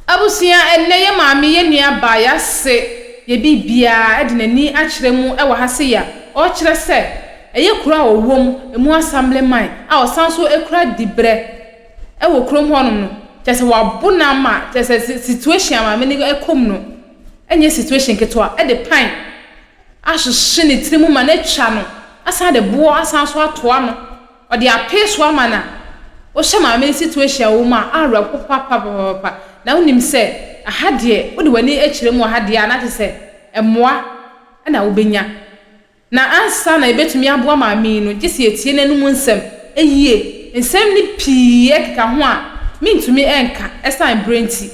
Abusua, Ɛnnɛ yɛ maame, yɛ nua baa, y'ase, yɛ biribiaa ɛde n'ani akyerɛ mu ɛwɔ ha se ya ɔɔkyerɛ sɛ ɛyɛ kuro a ɔwom, ɛmu Assemblyman a ɔsan so ɛkura dibrɛ ɛwɔ kurom hɔ nom no, kyerɛ sɛ w'abo no ama, kyerɛ sɛ situation a maame no ɛkɔm no ɛnyɛ situation ketewa, ɛde pan ahyehye ne tiri mu ma no atwa no asan de boɔ asan so ato ano. Ɔde apee so ama no a, wohyɛ maame no situation a ɔwɔ mu a, awerɛhow papaapapapa. Na wonim sɛ ɛha deɛ, wode w'ani kyerɛ mu wɔ ha deɛ a, na kyerɛ sɛ mmoa na wobɛnya. Na ansa na yɛbɛtumi aboa maame yi no, gye sɛ yɛtie n'anom nsɛm yie. Nsɛm no pii keka ho a mentumi nka ɛsiane berɛ nti.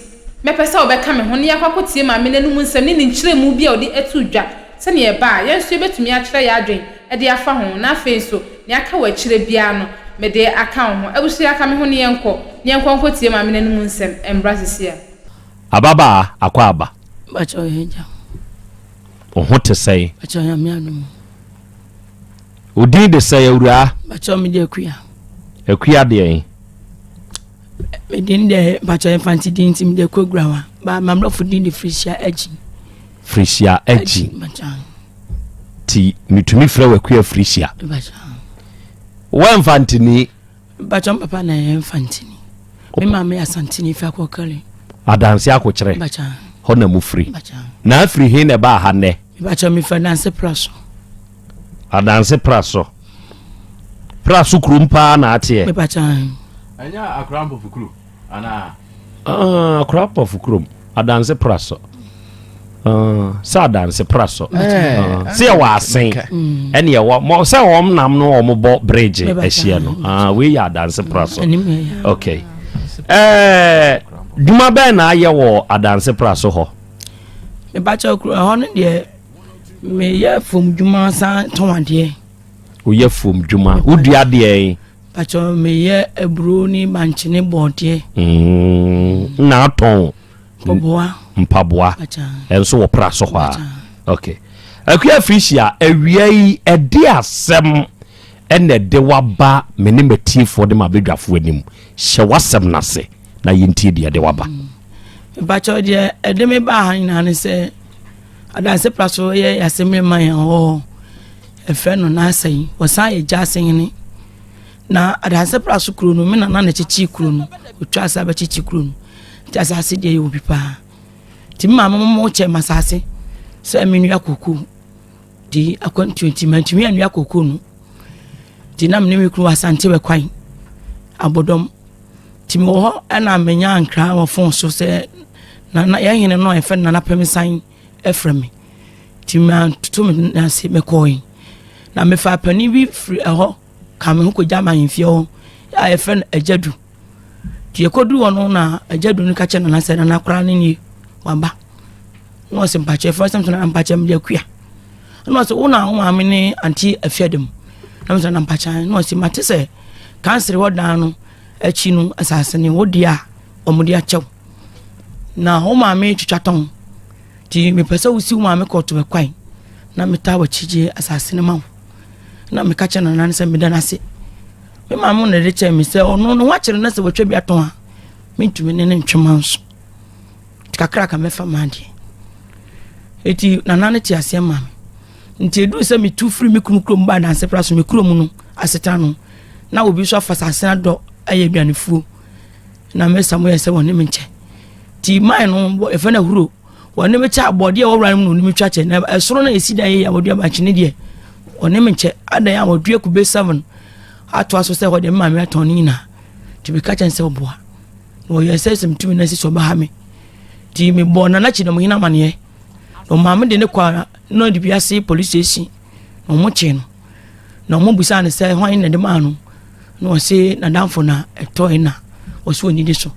Mɛpɛ sɛ wobɛka me ho na yɛakɔ akɔtie maame no anom nsɛm ne ne nkyerɛmu bi a ɔde to dwa. Sɛnea ɛba a, yɛn nso yebetumi akyerɛ yɛn adwene de afa ho, na afei nso, nea aka wɔ akyiri biara no, mede aka wo ho. Abusua, ka me ho ne yɛnkɔ, ne yɛnkɔ nkotie Maame no anom nsɛm mmra sesia. Ababaa Akwaaba. Mpakyɛw yɛn gya ho. Wo ho te sɛn? Mpakyɛw Nyame adom o. Wo din de sɛn awuraa? Mpakyɛw me de Akua. Akua deɛn? Me din de, mpakyɛw yɛ Mfante din nti me de Akua Gurawa, but m'abrɔfo din de Felicia Agyin. Frisia Agyi Ti metumi frɛ wakua Frisia Wɔ mfantini Bakyɛ m papa na yɛ mfantini Me maame yɛ asantini fi akɔkari Adanse akokyerɛ Hɔ na mu firi Na afiri he na ɛbaa ha nnɛ Bakyɛ me firi adanse pra so Adanse pra so Pra so kurom paa na ateɛ Bakyɛ Ɛnyɛ akora mpofo kuro anaa. Ah, akora pɔfo kurom adanse pra sɔ ah, sɛ adanse pra sɔ eh, eh, ah, sɛ yɛwɔ asen ɛne ɛwɔ sɛ wɔn nam no wɔn bɔ bridge ahyia no ah, wei yɛ adanse pra sɔ okay ɛɛ eh, dwuma bɛn na ayɛ wɔ adanse pra so hɔ. mebakyɛ kuro ɛhɔ no deɛ meyɛ fam dwuma san tɔn adeɛ. woyɛ fam dwuma wodua adeɛ yi. Patsɔ meyɛ aburo ne bankye ne bɔɔdeɛ. Mm, na atɔn. Mpaboa. Mpaboa. Ɛnso wɔ pra so hɔ a. Okay. Akua Frisia, awia yi ɛde asɛm ɛna ɛde waba me ne matiefoɔ de ma abɛdwafoɔ anim. Hyɛ w'asɛm no ase na yɛntie deɛ ɛde waba. Mm. Mpatsɔ deɛ ɛde me baa ha nyinaa ne sɛ adanse pra so yɛ yɛasɛm ne ma yɛn hɔ. Ɛfrɛ no N'asɛn. Ɔsan yɛ gya asɛnhene. Na Adanse Praso kuro no, me nana na ɛkyekyee kuro no. Ɔtwa asa bɛkyekye kuro no. Nti asase deɛ yɛ obi paa. Nti me maame mo kyɛ ma asase sɛ menua koko. Nti akwantuo nti mantumi anua koko no. Nti na me ne me kunu wɔ Asante bɛkwan abɔdɔm. Nti mewɔ hɔ ɛna menya nkra wɔ fon so sɛ nana yɛhene no a yɛfrɛ no Nana Pɛmesan ɛfrɛ me nti mantoto me nan ase mekɔe na mefa panin bi firi ɛhɔ ka me ho kɔgya ma ahemfie hɔ a yɛfrɛ no agyadu nti yɛkɔduru hɔ no na agyadu no ka kyɛ nana sɛ nana koraa ne nie waba na ɔsɛ mpakyɛ fɛ sɛ na mpakyɛ mede akua na ɔsɛ wo na wo maame ne ante afia dam na mesɛ na mpakyɛ na ɔsɛ mate sɛ kansere hɔ dan no akyi no asase ne wo deɛ a wɔde akyɛw na wo maame twitwa tɔn nti mepɛ sɛ wosi wo maame kɔɔto bɛkwan na metaa wakyigye asase no ma wo na meka kyɛ nana no sɛ meda no ase me maame na ɛde kyɛɛ me sɛ ɔno no wakyerɛ no sɛ watwa bi atɔn a mentumi ne no ntwema nso kakra ka mɛfa ma adeɛ ɛti nana no te aseɛ ma me nti ɛduru sɛ metu firi me kunu kurom ba adanse pra so me kurom no asetena no na obi nso afa asase no adɔ ayɛ aduanefuo na me samu yɛ sɛ wɔne me nkyɛ ti man no bɔ efe na huro wɔne me kyɛ abɔdeɛ wɔ wura no mu na me twa kyɛ na ɛsoro na esi dan yɛ wɔde abankyene deɛ wɔne me nkyɛ adan a wɔdua kube seven ato aso sɛ wɔde mma me atɔn ne nyinaa ti bi ka kyɛn sɛ ɔboa na wɔyɛ sɛ sɛm tumi na sisi ɔbɛha me ti me bɔ na n'akyi na mo nyina amaneɛ na ɔmaame de ne kɔ na ɔde bi ase polisi esi. na ɔmo kyee no na ɔmo busaa no sɛ hwan na ɛde maa no na ɔse n'adamfo na ɛtɔe na ɔsɛ ɔni de so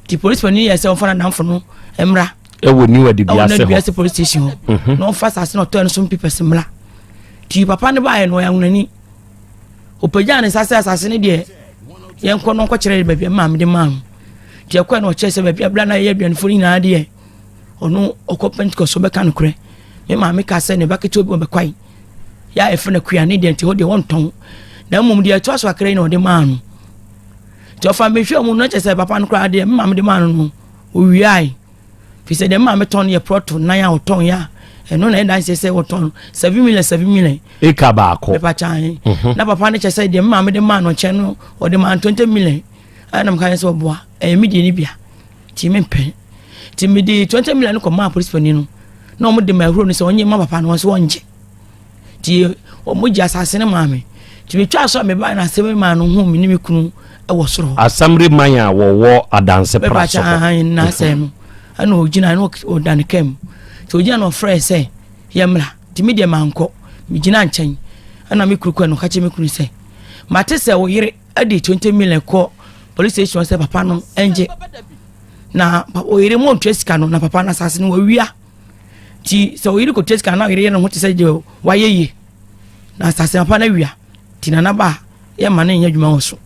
nti polisi panyin yɛ sɛ ɔmfa n'adamfo no mmra ɛwɔ niwa de biase hɔ ɛwɔ niwa de polisi station hɔ mhm. na ɔmfa asase na ɔtɔe no so mpipɛsi mmra nti papa no baayɛ no ɔyɛ ahonani ɔpagya ne nsa sɛ asase no deɛ yɛnkɔ no nkɔkyerɛ de baabi a maame de maa no nti ɛkɔɛ na ɔkyerɛ sɛ baabi abira na yɛyɛ aduanefo no nyinaa deɛ ɔno ɔkɔ pentecost ɔbɛka nokorɛ me maame kaa sɛ ne ba ketewa bi ɔbɛkwae yɛ a ɛfrɛ no kua ne deɛ nti hɔ deɛ wɔntɔn na mmom deɛ ɛtoa so akra yi na ɔde maa no nti ɔfa mehwɛ mu no kyɛ sɛ papa no koraa deɛ me maame de maa no no ɔwiae fi sɛ deɛ me maame tɔn yɛ prɔto nan a ɔtɔn yɛ a ɛno na ɛdanseɛ sɛ wɔtɔn seven million seven million eka baako pepa kyan mhm. na papa no kyɛ sɛ deɛ me maame de maa no nkyɛn no ɔde maa no twenty million ɛna meka sɛ ɔboa ɛyɛ me deɛ ne bia Ti me mpɛ. Ti me de twenty million no kɔ maa polisi panyin no. Na wɔn de ma ehuro no sɛ wɔn nye ma papa no wɔn so wɔn ngye. Ti wɔn gye asase no maa me. Ti me twa so a me ba na asɛm maa no hu me ne me kunu ɛwɔ soro hɔ. Asamre man a wɔwɔ adanse pra so. Bɛba kya na asɛm no. Ɛna ogyina no ɔda ne kam. Ti ogyina na ɔfrɛ sɛ yɛmmra. Ti me deɛ mankɔ. Me gyina nkyɛn. Ɛna me kuru kɔ no ka kyerɛ me kunu sɛ mate sɛ wo yere ɛde twenty million kɔ police station sɛ papa no ɛngye na oyere mu ntua sika no na papa no asase no wawia ti sɛ oyere kɔ tua sika na oyere yɛ ne ho te sɛ deɛ wayɛ yie na asase papa no awia ti na naba yɛ ma ne nyɛ adwuma wɔ so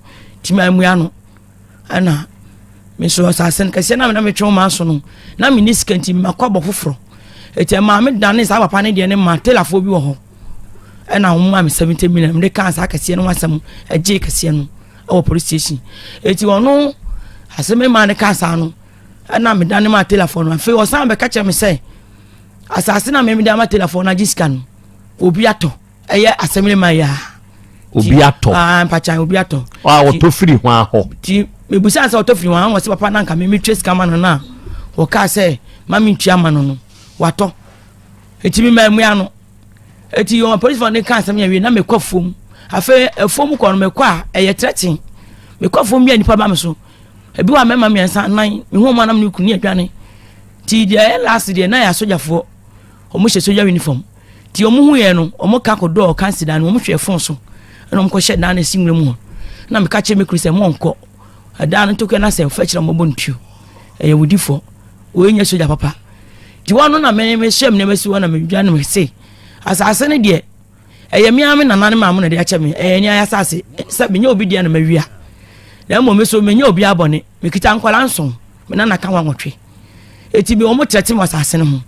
ti ma amua no ɛna. me nso asase no kɛseɛ na na metwe wo maa so no na menni sika nti makɔ abɔ foforɔ ɛti ɛmaa me dane saa papa no deɛ no ma telafoɔ bi wɔ hɔ ɛna wɔn maa me seventy million mede kaa saa kɛseɛ no ho asɛm ɛgye kɛseɛ no ɛwɔ police station ɛti ɔno asɛm ɛmaa no kaa saa no ɛna me dane maa telafoɔ no afei ɔsan bɛka kyerɛ me sɛ asase na memede ama telafoɔ no agye sika no obi atɔ ɛyɛ assembly man yɛ a. obi atɔ aa ah, mpakya obi atɔ. a ɔtɔ firi ho ahɔ. ti mebusa sɛ ɔtɔ firi ho ahɔ wɔsi papa nanka mi mi twɛ sika ma no na wɔkaa sɛ ma mi ntua ma no no watɔ eti mi ma emua no eti wɔn polisifoɔ ne ka asɛm yɛ wie na mi kɔ fom afei efom kɔ no mi kɔ a ɛyɛ tɛrɛtin mi kɔ fom yɛ nipa ba mi so ebi wa mɛma mmiɛnsa nan mi hu wɔn anam ne kunu ne aduane ti deɛ ɛyɛ laasi deɛ na yɛ asogyafoɔ. Wɔhyɛ sogya unifɔm. Nti wɔn ho yɛ no, wɔn ka kɔ dɔɔ kansi dan no, wɔn hwɛ fon so, ɛna wɔn kɔ hyɛ dan no esi nwura mu hɔ. Na mi ka kyerɛ mi kuru sɛ, mo nkɔ. Ɛdan no ntokɛ na sɛ ɔfɛ kyerɛ wɔn bɔ ntuo. Ɛyɛ wudi fɔ. Wɔn nyɛ sogya papa. Nti wɔn ano na mi mi hyɛ mi nneɛma si hɔ na mi dwa ne mi se. Asaase no deɛ, ɛyɛ mi ara mi nana ne maame na ɛde akyɛ mi. Ɛyɛ ni ayɛ asaase. Sɛ mi nyɛ obi deɛ na ma wia. Na mmom mi so mi nyɛ obi abɔne. Mi kita nkɔla nson. Mi nana ka ho anwɔtwe. Enti me wɔn trɛte wɔ asase no ho.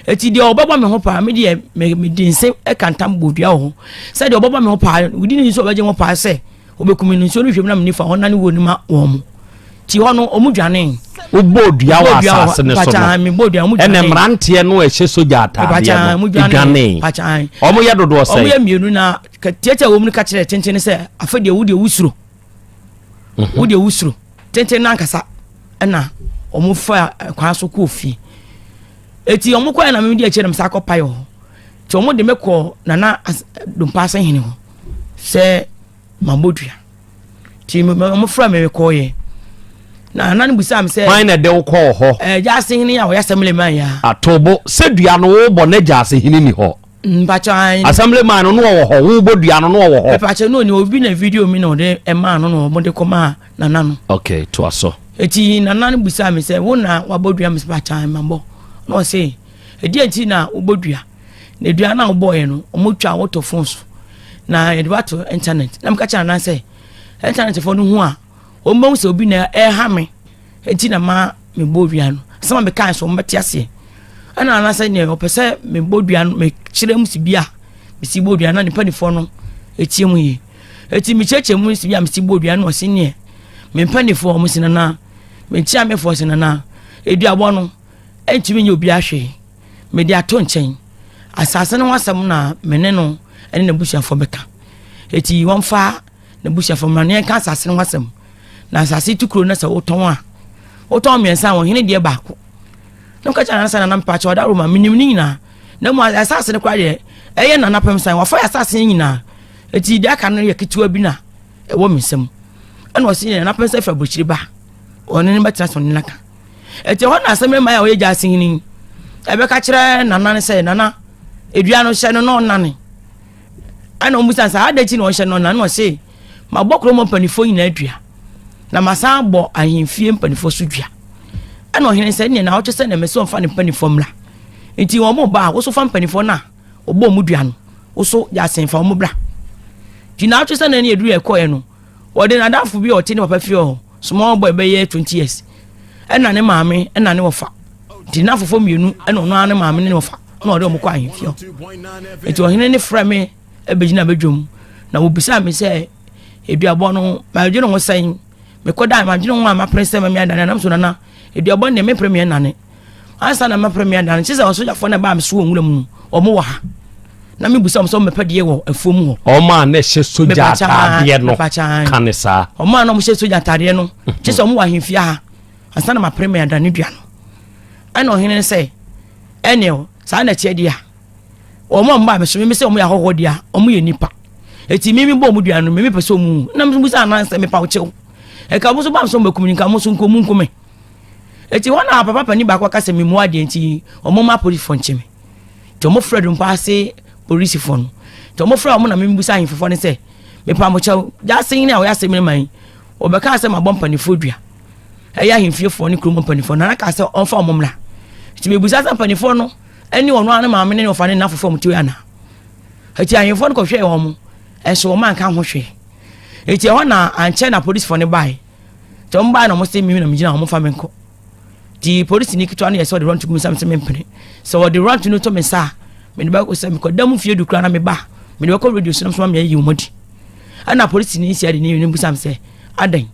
Enti deɛ ɔbɛbɔ me ho paa me deɛ mede nse ka ntam bɔ dua wɔ ho sɛ deɛ ɔbɛbɔ me ho paa wodi ne nso ɔbɛgye ho paa sɛ ɔbɛkumi no nsuo no hwɛ mu na me nifa ɔna ne wuo no ma wɔn mo ti hɔ no ɔmo dwane. wobɔ dua wɔ asase no so no ɛna mmeranteɛ no ɛhyɛ sogya ataadeɛ no dwane ɔmo yɛ dodoɔ sɛ ɔmo yɛ mmienu na tiatia wɔn mu no ka kyerɛ tenten sɛ afɛ deɛ wo deɛ wosuro mhm. wodeɛ wosuro tenten no ankasa ɛna wɔn fa kwan so kɔɔ fie eti wɔn kɔɛ na mɛmɛ di akyire na mɛsa akɔ pae hɔ ti wɔn de mɛ kɔ nana dompaase hene hɔ sɛ mabɔ dua ti wɔn fura mɛmɛ kɔɔ yɛ na nana busa mi sɛ. kwan na ɛde kɔɔ hɔ. ɛɛ gyaase hene a ɔyɛ asɛm lɛ maa ya. atobo sɛ dua no wɔbɔ ne gyaase hene ni hɔ. Assembly man no no ɔwɔ hɔ wo bɔ dua no no ɔwɔ hɔ. Ɛpàkyɛ no ni obi na video mi na ɔde ɛmaa no na ɔde kɔ maa nana no. Okay to aso. Eti nana no busa mi sɛ wo na wabɔ dua mi sɛ pàkyɛ ma bɔ na ɔsɛ ɛdi ɛnti na wobɔ dua na dua na wobɔ yɛ no ɔmo twa wɔtɔ phone so na yɛde wato internet na mi ka kyɛ nana sɛ internet fo no hu a. wɔbɛhu sɛ obi na ɛreha me nti na ma mebɔ dua no asɛm a mekae so wɔbɛte aseɛ ɛna anasɛ neɛ ɔpɛ sɛ mebɔ dua no mekyerɛ mu si bi a mesi bɔ dua no ne mpanimfoɔ no ɛtie mu yie ɛti mekyerɛkyerɛ mu si bi a mesi bɔ dua no ɔse neɛ me mpanimfoɔ ɔmo si nanaa menkyia mefoɔ si nanaa aduabɔ no ɛntumi nyɛ obi ahwee mede ato nkyɛn asase no ho asɛm na mene no ɛne n'abusuafoɔ bɛka ɛti wɔmfa n'abusuafo mmra na yɛnka asase no ho asɛm na asase tu kuro no sɛ wotɔn a wotɔn mmiɛnsa a wɔhene deɛ baako na woka kyɛ nanasa nana mpakyɛ ɔda roma menim ne nyinaa na mu asase no koraa deɛ ɛyɛ nana pɛm san wɔfa yɛ asase no nyinaa ɛti deɛ aka no yɛ ketewa bi na ɛwɔ me nsam ɛna ɔse yɛ nana pɛm sɛ fɛ aburokyiri ba ɔne no bɛtena so ne naka ɛti hɔ na asɛm ɛma yɛ ɔyɛ gya asehene ɛbɛka kyerɛ nana no sɛ nana edua no hyɛ no na ɔnane ɛna wɔn bisa saa adan ti na ɔhyɛ no na na ɔse mabɔ kurom mpanimfoɔ nyinaa dua na masan bɔ ahemfie mpanimfoɔ so dua ɛna ɔhene sɛ neɛ na ɔtwe sɛ na mɛsɛ ɔmfa ne mpanimfoɔ mmra nti wɔn mo ba a woso fa mpanimfoɔ no a ɔbɔ wɔn dua no woso yɛ asenfa wɔn bra nti na ɔtwe sɛ na ne aduru ɛkɔɛ no Wɔde n'adamfo bi a ɔte ne papa fie hɔ, small boy bɛyɛ twenty years, ɛna ne maame ɛna ne wɔfa. Nti n'afofo mmienu ɛna ɔno ara ne maame ne ne wɔfa ɛna ɔde wɔn kɔ ahemfie hɔ. Nti ɔhene ne frɛ me ɛbɛgyina bɛdwam na wɔbisaa me sɛ eduabɔ no madwene ho sɛn mekɔda madwene ho a mapere sɛ mɛmɛ adane anam so nana eduabɔ no deɛ mepere meɛ nane ansa na mɛpere me adan kyerɛ sɛ ɔsogyafoɔ no ɛbaa me so wɔ nwura mu ɔmo wɔ ha na mebusa ɔmo sɛ ɔmo mɛpɛ deɛ wɔ afuo mu hɔ ɔmo a na ɛhyɛ sogya ataadeɛ no ka ne saa ɔmo a na ɔmo hyɛ sogya ataadeɛ no kyerɛ sɛ ɔmo wɔ ahemfie ha ansa na mapere me adan ne dua no ɛna ɔhene no sɛ ɛneɛ saa na ɛteɛ deɛ a ɔmo a ɔmo baa me so me sɛ ɔmo yɛ ahɔhoɔ deɛ a ɔmo yɛ nipa eti mimi bɔ ɔmo dua no mimi pɛ sɛ ɔmo na mo sɛ anan sɛ mepa ɔkyɛw ɛka mo so baa so mbɛkum nka mo so nkomu nkume Enti hɔ na papa panin baako ka sɛ memmua deɛ nti wɔmma apolisifoɔ nkye me. Nti wɔfrɛ dompa ase polisifoɔ no. Nti wɔfrɛ wɔn na membisa ahemfofoɔ no sɛ, mepa mo kyɛw, gyaase hene a ɔyɛ asɛm no ma yi, wɔbɛkaa sɛ mabɔ mpanimfoɔ dua. Ɛyɛ ahemfiefoɔ ne kurom mpanimfoɔ no, na kaa sɛ ɔmfa wɔn mmra. Nti mebisa sɛ mpanimfoɔ no ne wɔn ara ne maame ne wɔfa ne nna fofoɔ wɔn ti anaa. Eti ahemfo no kɔhwɛɛ wɔn, nso wɔn anka ho hwee. Eti ɛhɔ na ankyɛ na polisifoɔ no bae. nti wɔn baa na wɔn sɛ mimi na mi gyina wɔn fa mi nkɔ ti polisi ni ketewa no yɛ sɛ ɔde rɔntu gu mi nsa mi sɛ mi mpene sɛ ɔde rɔntu no to mi nsa a mi de bɛkɔ sɛ mi kɔ dan mu fie du kura na mi ba mi de bɛkɔ radio so na mi sɛ mi ayi wɔn di ɛna polisi ni si adi ni ni busa mi sɛ adan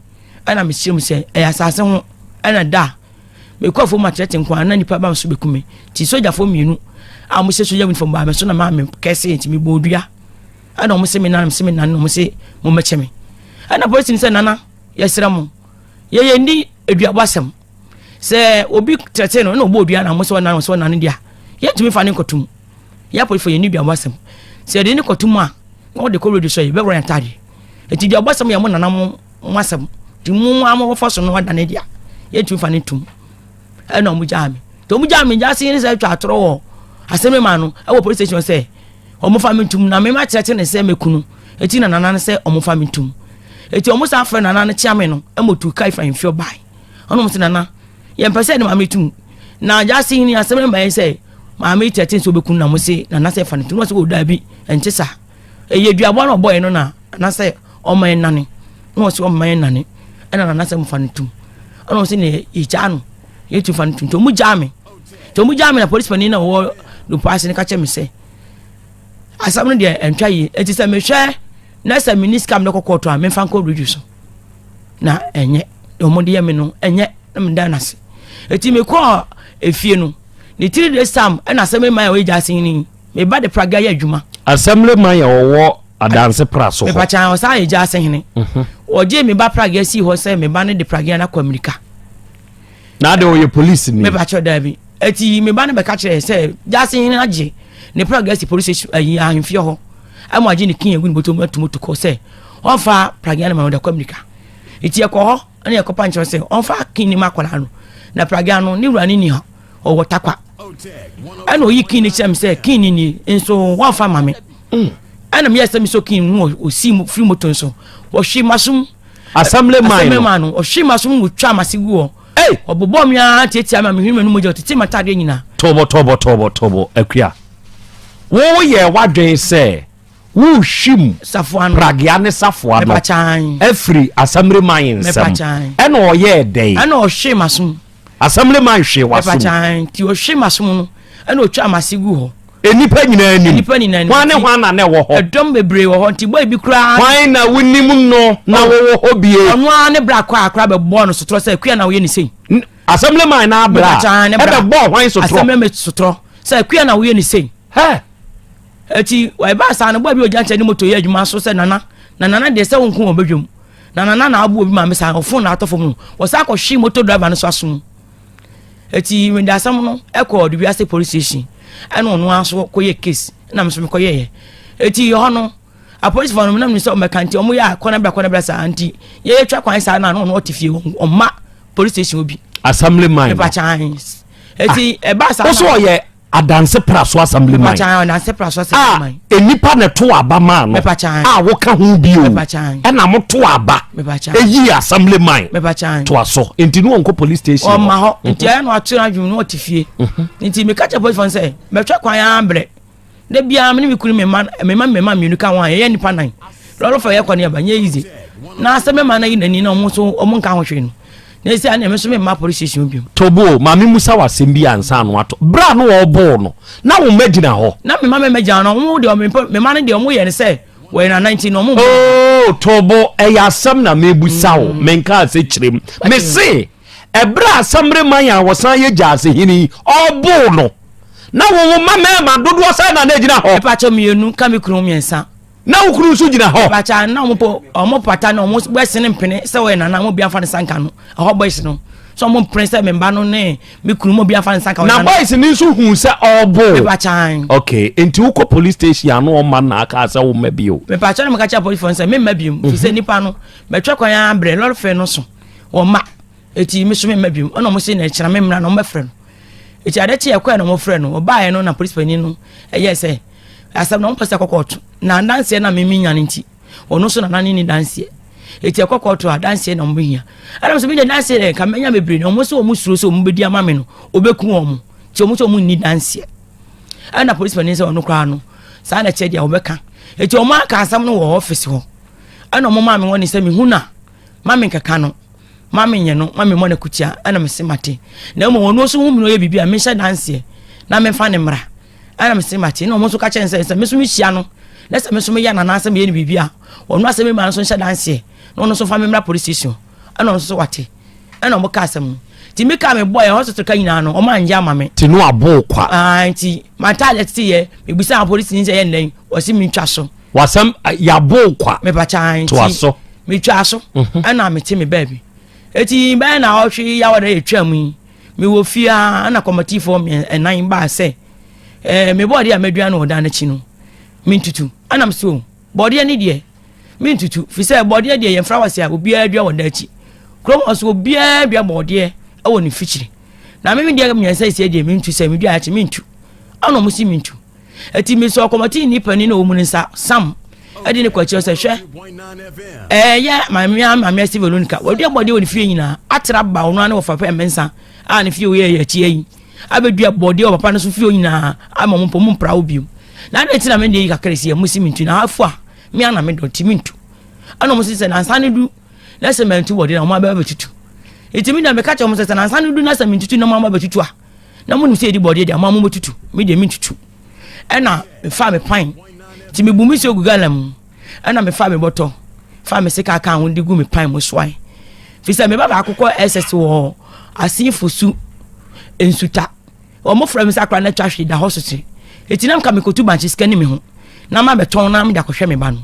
ɛna mi sɛ mi sɛ ɛyɛ asase ho ɛna da mi kɔ fo ma tɛtɛ nkwa na nipa ba mi so bɛ kume ti sogyafo mmienu a wɔn hyɛ sogya uniform baa mi so na maa mi kɛse nti mi bɔ odua. ɛna wɔn se me nana se me nana na wɔn se mo mɛkyɛ me ɛna polisi no sɛ nana yɛsrɛ mo yɛyɛ ni aduabɔ asɛm sɛ obi tɛtɛ no ɛna ɔbɔ odua na mo sɛ ɔnana sɛ ɔnana deɛ yɛntumi fa ne nkɔto mu yɛ apolifo yɛ ni aduabɔ asɛm sɛ yɛde ne kɔto mu a na ɔde kɔ radio so yɛ bɛwura yɛn taade eti aduabɔ asɛm yɛ mo nana mo mo asɛm ti mo mo amɔ wɔfa so no ɔda ne deɛ yɛntumi fa ne ntom. ɛna ɔmo gyaa me nti ɔmo gyaa me gyaa se ne sɛ atwa atorɔ wɔ asɛm ma no ɛwɔ police station sɛ ɔmo fa me ntum na mema kyerɛkyerɛ ne sɛ mekunu eti na nana no sɛ ɔmo fa me ntum eti ɔmo san frɛ nana no kyea me no ɛma otu ka ifa nfio ban ɔno mo se nana yɛn pɛ sɛ ne maame tum na gyaa se ne asɛm ma yɛn sɛ maame kyerɛkyerɛ sɛ ɔbɛkunu na mo se nana sɛ fa ne ntum na ɔsɛ wɔ daabi ɛnte saa ɛyɛ duaboa na ɔbɔ yɛn no na anasɛ ɔma yɛn nane na ɔsɛ ɔma yɛn nane ɛna nanasɛ mofa no tum ɛna ɔsɛ na yɛgyaa no yɛtu fa no tum nti ɔmu gyaa me nti ɔmu gyaa me na polisi panin na ɔwɔ dupa ase no ka kyɛ me sɛ asɛm no deɛ ɛntwa yie ɛti sɛ mehwɛ na sɛ meni sika mede kɔkɔɔ to a memfa nkɔ bridge so na ɛnyɛ ɔmo de yɛ me no ɛnyɛ na meda no ase ɛti mekɔɔ efie no ne tiri de sam ɛna asɛm ɛma a ɔyɛ gya ase ni Me ba de praga yɛ adwuma. Assemblyman yɛ ɔwɔ adanse pra so hɔ. Mepakya ɔsan yɛ gya ase hene. Mhm. Ɔgye me ba praga si hɔ sɛ me ba no de praga no akɔ Amerika. Na de ɔyɛ polisi ni. Mepakya daa bi. Eti me ba no bɛka kyerɛ sɛ gya ase hene agye ne praga si polisi ayi eh, ahemfie hɔ. Ɛmo agye ne kin egu ne bɔtɔ mu atum tukɔ sɛ ɔnfa praga no ma ɔde kɔ Amerika. Eti ɛkɔ hɔ ɛna ɛkɔ pa nkyɛn sɛ ɔnfa kin ne ma akɔla no na praga no ne wura ne ni hɔ. ɔwɔ takwa ɛna ɔyi kin ne kyerɛ me sɛ kin ne nie nso wɔamfa ma me mm. ɛna meyɛ sɛ mesɔ kin mu ɔsi firi moto nso ɔhwe masom assembly man no ɔhwe masom wɔtwa mase gu hɔ ɔbobɔ me ara tiatia me a mehwene m'anom gya ɔtete matadeɛ nyinaa tɔbɔtɔbɔtɔbɔtɔbɔ akua woyɛ w'adwen sɛ Wo hwim pragea ne safoa no afiri asamire man nsam. Ɛna ɔyɛɛ dɛn? Ɛna ɔhwee m'asom. Asamire man hwee w'asom. Nti ɔhwee m'asom no ɛna ɔtwa m'ase gu hɔ. Nnipa nyinaa anim. Nnipa nyinaa anim. Hwan ne hwan na na ɛwɔ hɔ? Ɛdɔm bebree wɔ hɔ nti bɔ ebi koraa. Hwan na wonim no na oh. wɔwɔ hɔ bie? Ɔno ara ne bra kɔ akora bɛbɔɔ no sotorɔ sɛ akua na woyɛ ne sei. Asamire man na abra ɛbɛbɔɔ hwan sotorɔ? Asamire man sotorɔ sɛ akua na woyɛ ne sei. Hɛ! Eti ɛbaa saa no boa bi ogya nkyɛn ne moto yɛ adwuma so sɛ nana na nana deɛ sɛ wonko wɔn badwam na nana na abo obi maame saa ɔfon na atɔ fam no wɔsan akɔhwe moto driver no so aso mu eti mede asɛm no ɛkɔ ɔde wiase police station ɛna ɔno ara so kɔyɛ case ɛna meso mekɔyɛ yɛ eti hɔ no apolisifoɔ no menam ne sɛ ɔmɛka nti ɔmo yɛ a kɔnabra kɔnabra saa nti yɛyɛ twa kwan saa na ɔno ɔte fie ɔma police station obi assembly man ɛbɛkyaa eti ɛbaa saa na ɔso ɔyɛ adanse praso assemblyman a nnipa na ɛto aba maa no a woka ho bio ɛna moto aba ɛyi assemblyman toa so nti ne wɔnkɔ police station ɔma hɔ mhm. nti ɛyɛ no atena adwene no ɔte fie mhm. nti meka kyɛ police fo sɛ mɛtwa kwan ara mbrɛ da biara mene mekunu mema mema mema mmienu ka ho a yɛyɛ nnipa nan lɔrɔfo yɛ kɔ ne ɛba nyɛ yize na asɛmɛma no yi n'ani na ɔmo so ɔmo nka ho hwee no na ɛsɛ a na ɛmɛ nso mɛ mma polisi station bi mu. tobo maame musa wa asɛm bi ansa ano ato bere a no ɔbɔɔ no na wɔn mɛ gyina hɔ. na mema mɛ mɛ gyina no wɔn deɛ wɔn mema no deɛ wɔn yɛ no sɛ wɔyɛ nana nti na wɔn. ooo oh, tobo ɛyɛ asɛm na mɛ busa o mɛ nka ase kyerɛ mu mɛ se ɛbere a asamre man a wɔsan yɛ gya ase hini ɔbɔɔ no na wɔn mma mɛɛma dodoɔ sɛ na na egyina hɔ. ɛpɛ akyɛ mmienu kame kunu mmiɛnsa. na wo kunu nso gyina hɔ. bàtà na wɔn pɔ wɔn pata na wɔn bɛsi ne mpene sɛ wɔyɛ nana wɔn bi afa ne sanka no ɛhɔ boys no sɛ wɔn mpene sɛ me mba no ne me kunu wɔn bi afa ne sanka. na boys ni nso hun sɛ ɔɔbo. bàtà. ok nti wokɔ police station ano ɔma na aka sɛ wo mma bi o. bàtà na mo ka kyerɛ police fɔ nsɛ me mma bi mu fi sɛ mhm. nipa no mɛtwa kwan ara brɛ lɔri fɛ no so wɔn mma eti mi so me mma bi mu ɔna wɔn si na ɛkyerɛ me mmira na wɔn bɛfrɛ no eti ade kye ɛkɔɛ na wɔn frɛ no ɔbaayɛ no na police panyin no ɛyɛ sɛ asɛm na wɔmpɛ sɛ ɛkɔ kɔɔto na adanseɛ no a meme nya no nti ɔno nso nana ne ne danseɛ ɛti ɛkɔ kɔɔto a danseɛ na wɔbɛhia ɛnam sɛ mede danseɛ dɛ nka mɛnya bebree na wɔn sɛ wɔn suro sɛ wɔn bɛdi ama me no wɔbɛku wɔn mo nti wɔn sɛ wɔn nni danseɛ ɛna polisi panin sɛ ɔno koraa no saa na ɛkyɛ deɛ wɔbɛka ɛti wɔn aka asɛm no wɔ ɔfisi hɔ ɛna wɔn maa me wɔn ne sɛ mehu na ma me nkeka no ma me nyɛ no ma me mmɔ no akutia ɛna mese mate na mmom ɔno nso hu me no ɔyɛ biribi a mehyɛ danseɛ na memfa ne mmara ɛna mese mate na ɔmo nso ka kyerɛ ne sɛ sɛ me nso mehyia no na sɛ me nso meyɛ no anaasɛ meyɛ no biribi a ɔno asɛm mi ma no nso nhyɛ danseɛ na ɔno nso fa me mmra police station ɛna ɔno nso wate ɛna ɔmo ka asɛm no nti me ka me bɔ yɛ hospital ka nyinaa no ɔmo anyɛ ama me. ti no abo kwa. aa nti ma ta alɛ ti yɛ mebisa polisi ni sɛ yɛ nnɛn wɔsi mi ntwa so. wasɛm yabo kwa. mepakya nti to aso. metwa aso ɛna mete me baabi eti bɛyɛ na ɔhwe yawa na yɛ twa mu yi. mewɔ fie ara na kɔmɔtifoɔ nnan baa sɛ ɛɛ eh, me bɔɔdeɛ a madua no ɔdan n'akyi no mentutu ɛnam so bɔɔdeɛ ne deɛ mentutu fi sɛ bɔɔdeɛ deɛ yɛn flowers a obiara dua wɔ dan akyi kurom hɔ so obiara dua bɔɔdeɛ ɛwɔ ne fikyiri na meme deɛ mmiɛnsa esia deɛ mentu sɛ medua akyi mentu ɛna wɔn si mentu Enti mesɔɔ kɔmɔtini panin a ɔwɔ mu no nsa, Sam, de no kɔ akyirɛ sɛ, hwɛ, ɛyɛ mamea mamea si Veronica, wadua bɔdeɛ wɔ ne fie nyinaa, atra ba ɔno ara ne wɔfa pɛ mmensa a ne fie wɔ yɛ akyia yi, abɛdua bɔdeɛ wɔ papa no so fie nyinaa, ama mo mpɔ mu mpra wo bio. Na adɛn nti na mede yi kakra si a mosi mentu na afo a me ana medɔ nti mentu. Ɛna ɔmo sɛ nansa no du na sɛ mantu bɔdeɛ na ɔmo abɛtutu. Enti me deɛ meka kyerɛ ɔmo sɛ sɛ nansa no du na sɛ mentutu na ɔmo abɛtutu a na monim sɛ yɛdi bɔdeɛ deɛ ama mobɛtutu me deɛ mentutu ɛna mefaa me pan nti mebu me sɛ gu gala mu ɛna mefaa me bɔtɔ faa me sika ka ho de gu me pan mu soae fi sɛ meba baako kɔ ɛsɛs wɔ asefo su nsuta wɔmofrɛ me sɛ akora no atwa hwee da hɔ sote ɛti na mka mekɔtu bankye sika ne me ho na ma bɛtɔn na mede akɔhwɛ me ba no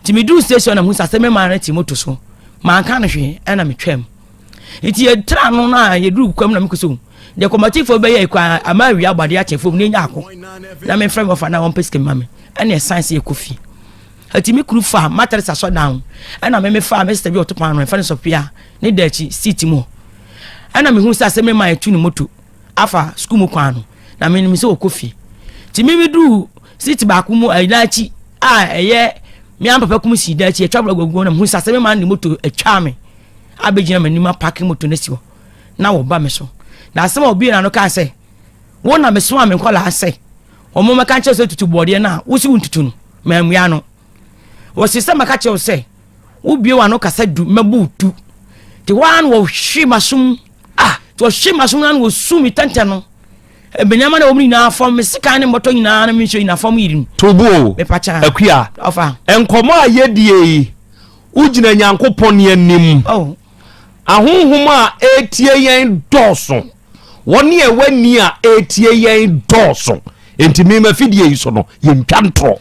nti meduu station na mu sɛ asɛ me maa no te moto so manka no hwee ɛna metwam nti yɛtra ano no a yɛduru kwam na mekɔ sɛ deɛ kɔmatifoɔ bɛyɛ ɛkɔ ama awia abɔ adeɛ akyɛ fam na ɛnya ako na memfrɛ me ɔfa na wɔmpɛ sika ma me ɛne ɛsan sɛ yɛkɔ fie ɛti me kuru fa matere sa sɔ dan ɛna meme fa me sista bi ɔto paano ɛfa ne sɔpia ne da akyi seat mu ɛna mehu sɛ asɛ mema ɛtu ne moto afa sukuu mu kwan no na menim sɛ ɔkɔ fie nti meme duu seat baako mu ɛda akyi a ɛyɛ me ampapa kum si da akyi ɛtwa brɛ gwaguo na mehu sɛ asɛ mema ne moto ɛtwa me abɛgyina m'anim apake moto no asi hɔ na wɔba me so na asɛm a obie na no kaa sɛ wo na mesoma me nkɔlaa sɛ wɔn mɛka nkyɛw sɛ tutu bɔɔdeɛ no a wosi wo ntutu no mammua no wɔsi sɛ mɛka kyɛw sɛ wobie w'ano kasa du mɛbu tu te hɔ ara na wɔhwe m'asom a te wɔhwe m'asom no na wɔsu me tɛntɛn no ebenyama na wɔn nyinaa fam me sika ne mmɔtɔ nyinaa na me nsuo nyinaa fam yiri no. tubu o mepakya akua nkɔmɔ a yɛdie yi Wogyina Nyankopɔn anim. Oh. Ahonhom a ɛretie yɛn dɔɔso. Wɔn a ɛwɔ ani a ɛretie yɛn dɔɔso. Enti me mafidie yi so no, yɛntwa ntorɔ.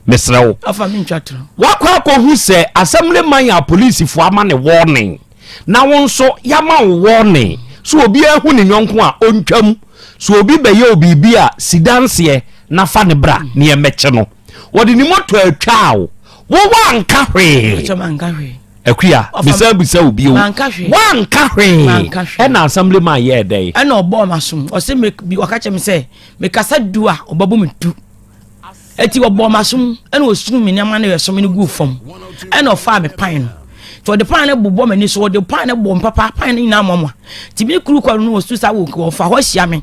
Mesrɛ wo. Afa me ntwa torɔ. Wakɔ akɔhu sɛ asɛm ne man a polisifoɔ ama ne wɔɔnen. Na wo nso yɛama wo wɔɔnen. So obiara hu ne nyɔnko a ɔntwam. So obi bɛyɛ wo biribi a, si danseɛ na fa ne bra na yɛmmɛkye no. wɔde ne moto atwaa wo wowɔ anka hwee akuya bisa bisa obi o wanka hwee ɛna assembly man yɛ ɛdɛ yi. ɛna ɔbɔ ɔma som ɔsɛ mi bi ɔka kyerɛ mi sɛ mekasa du a ɔbɛbɔ mi du eti ɔbɔ ɔma som ɛna osunu mi nneɛma na yɛ som no gu fam ɛna ɔfaa mi pan no tí ɔde pan no bobɔ m'ani so ɔde pan no bɔ mpapa pan no nyinaa mɔmɔ tìmí kuru kɔ no wɔ su sa wɔ ɔfa hɔ hyia mi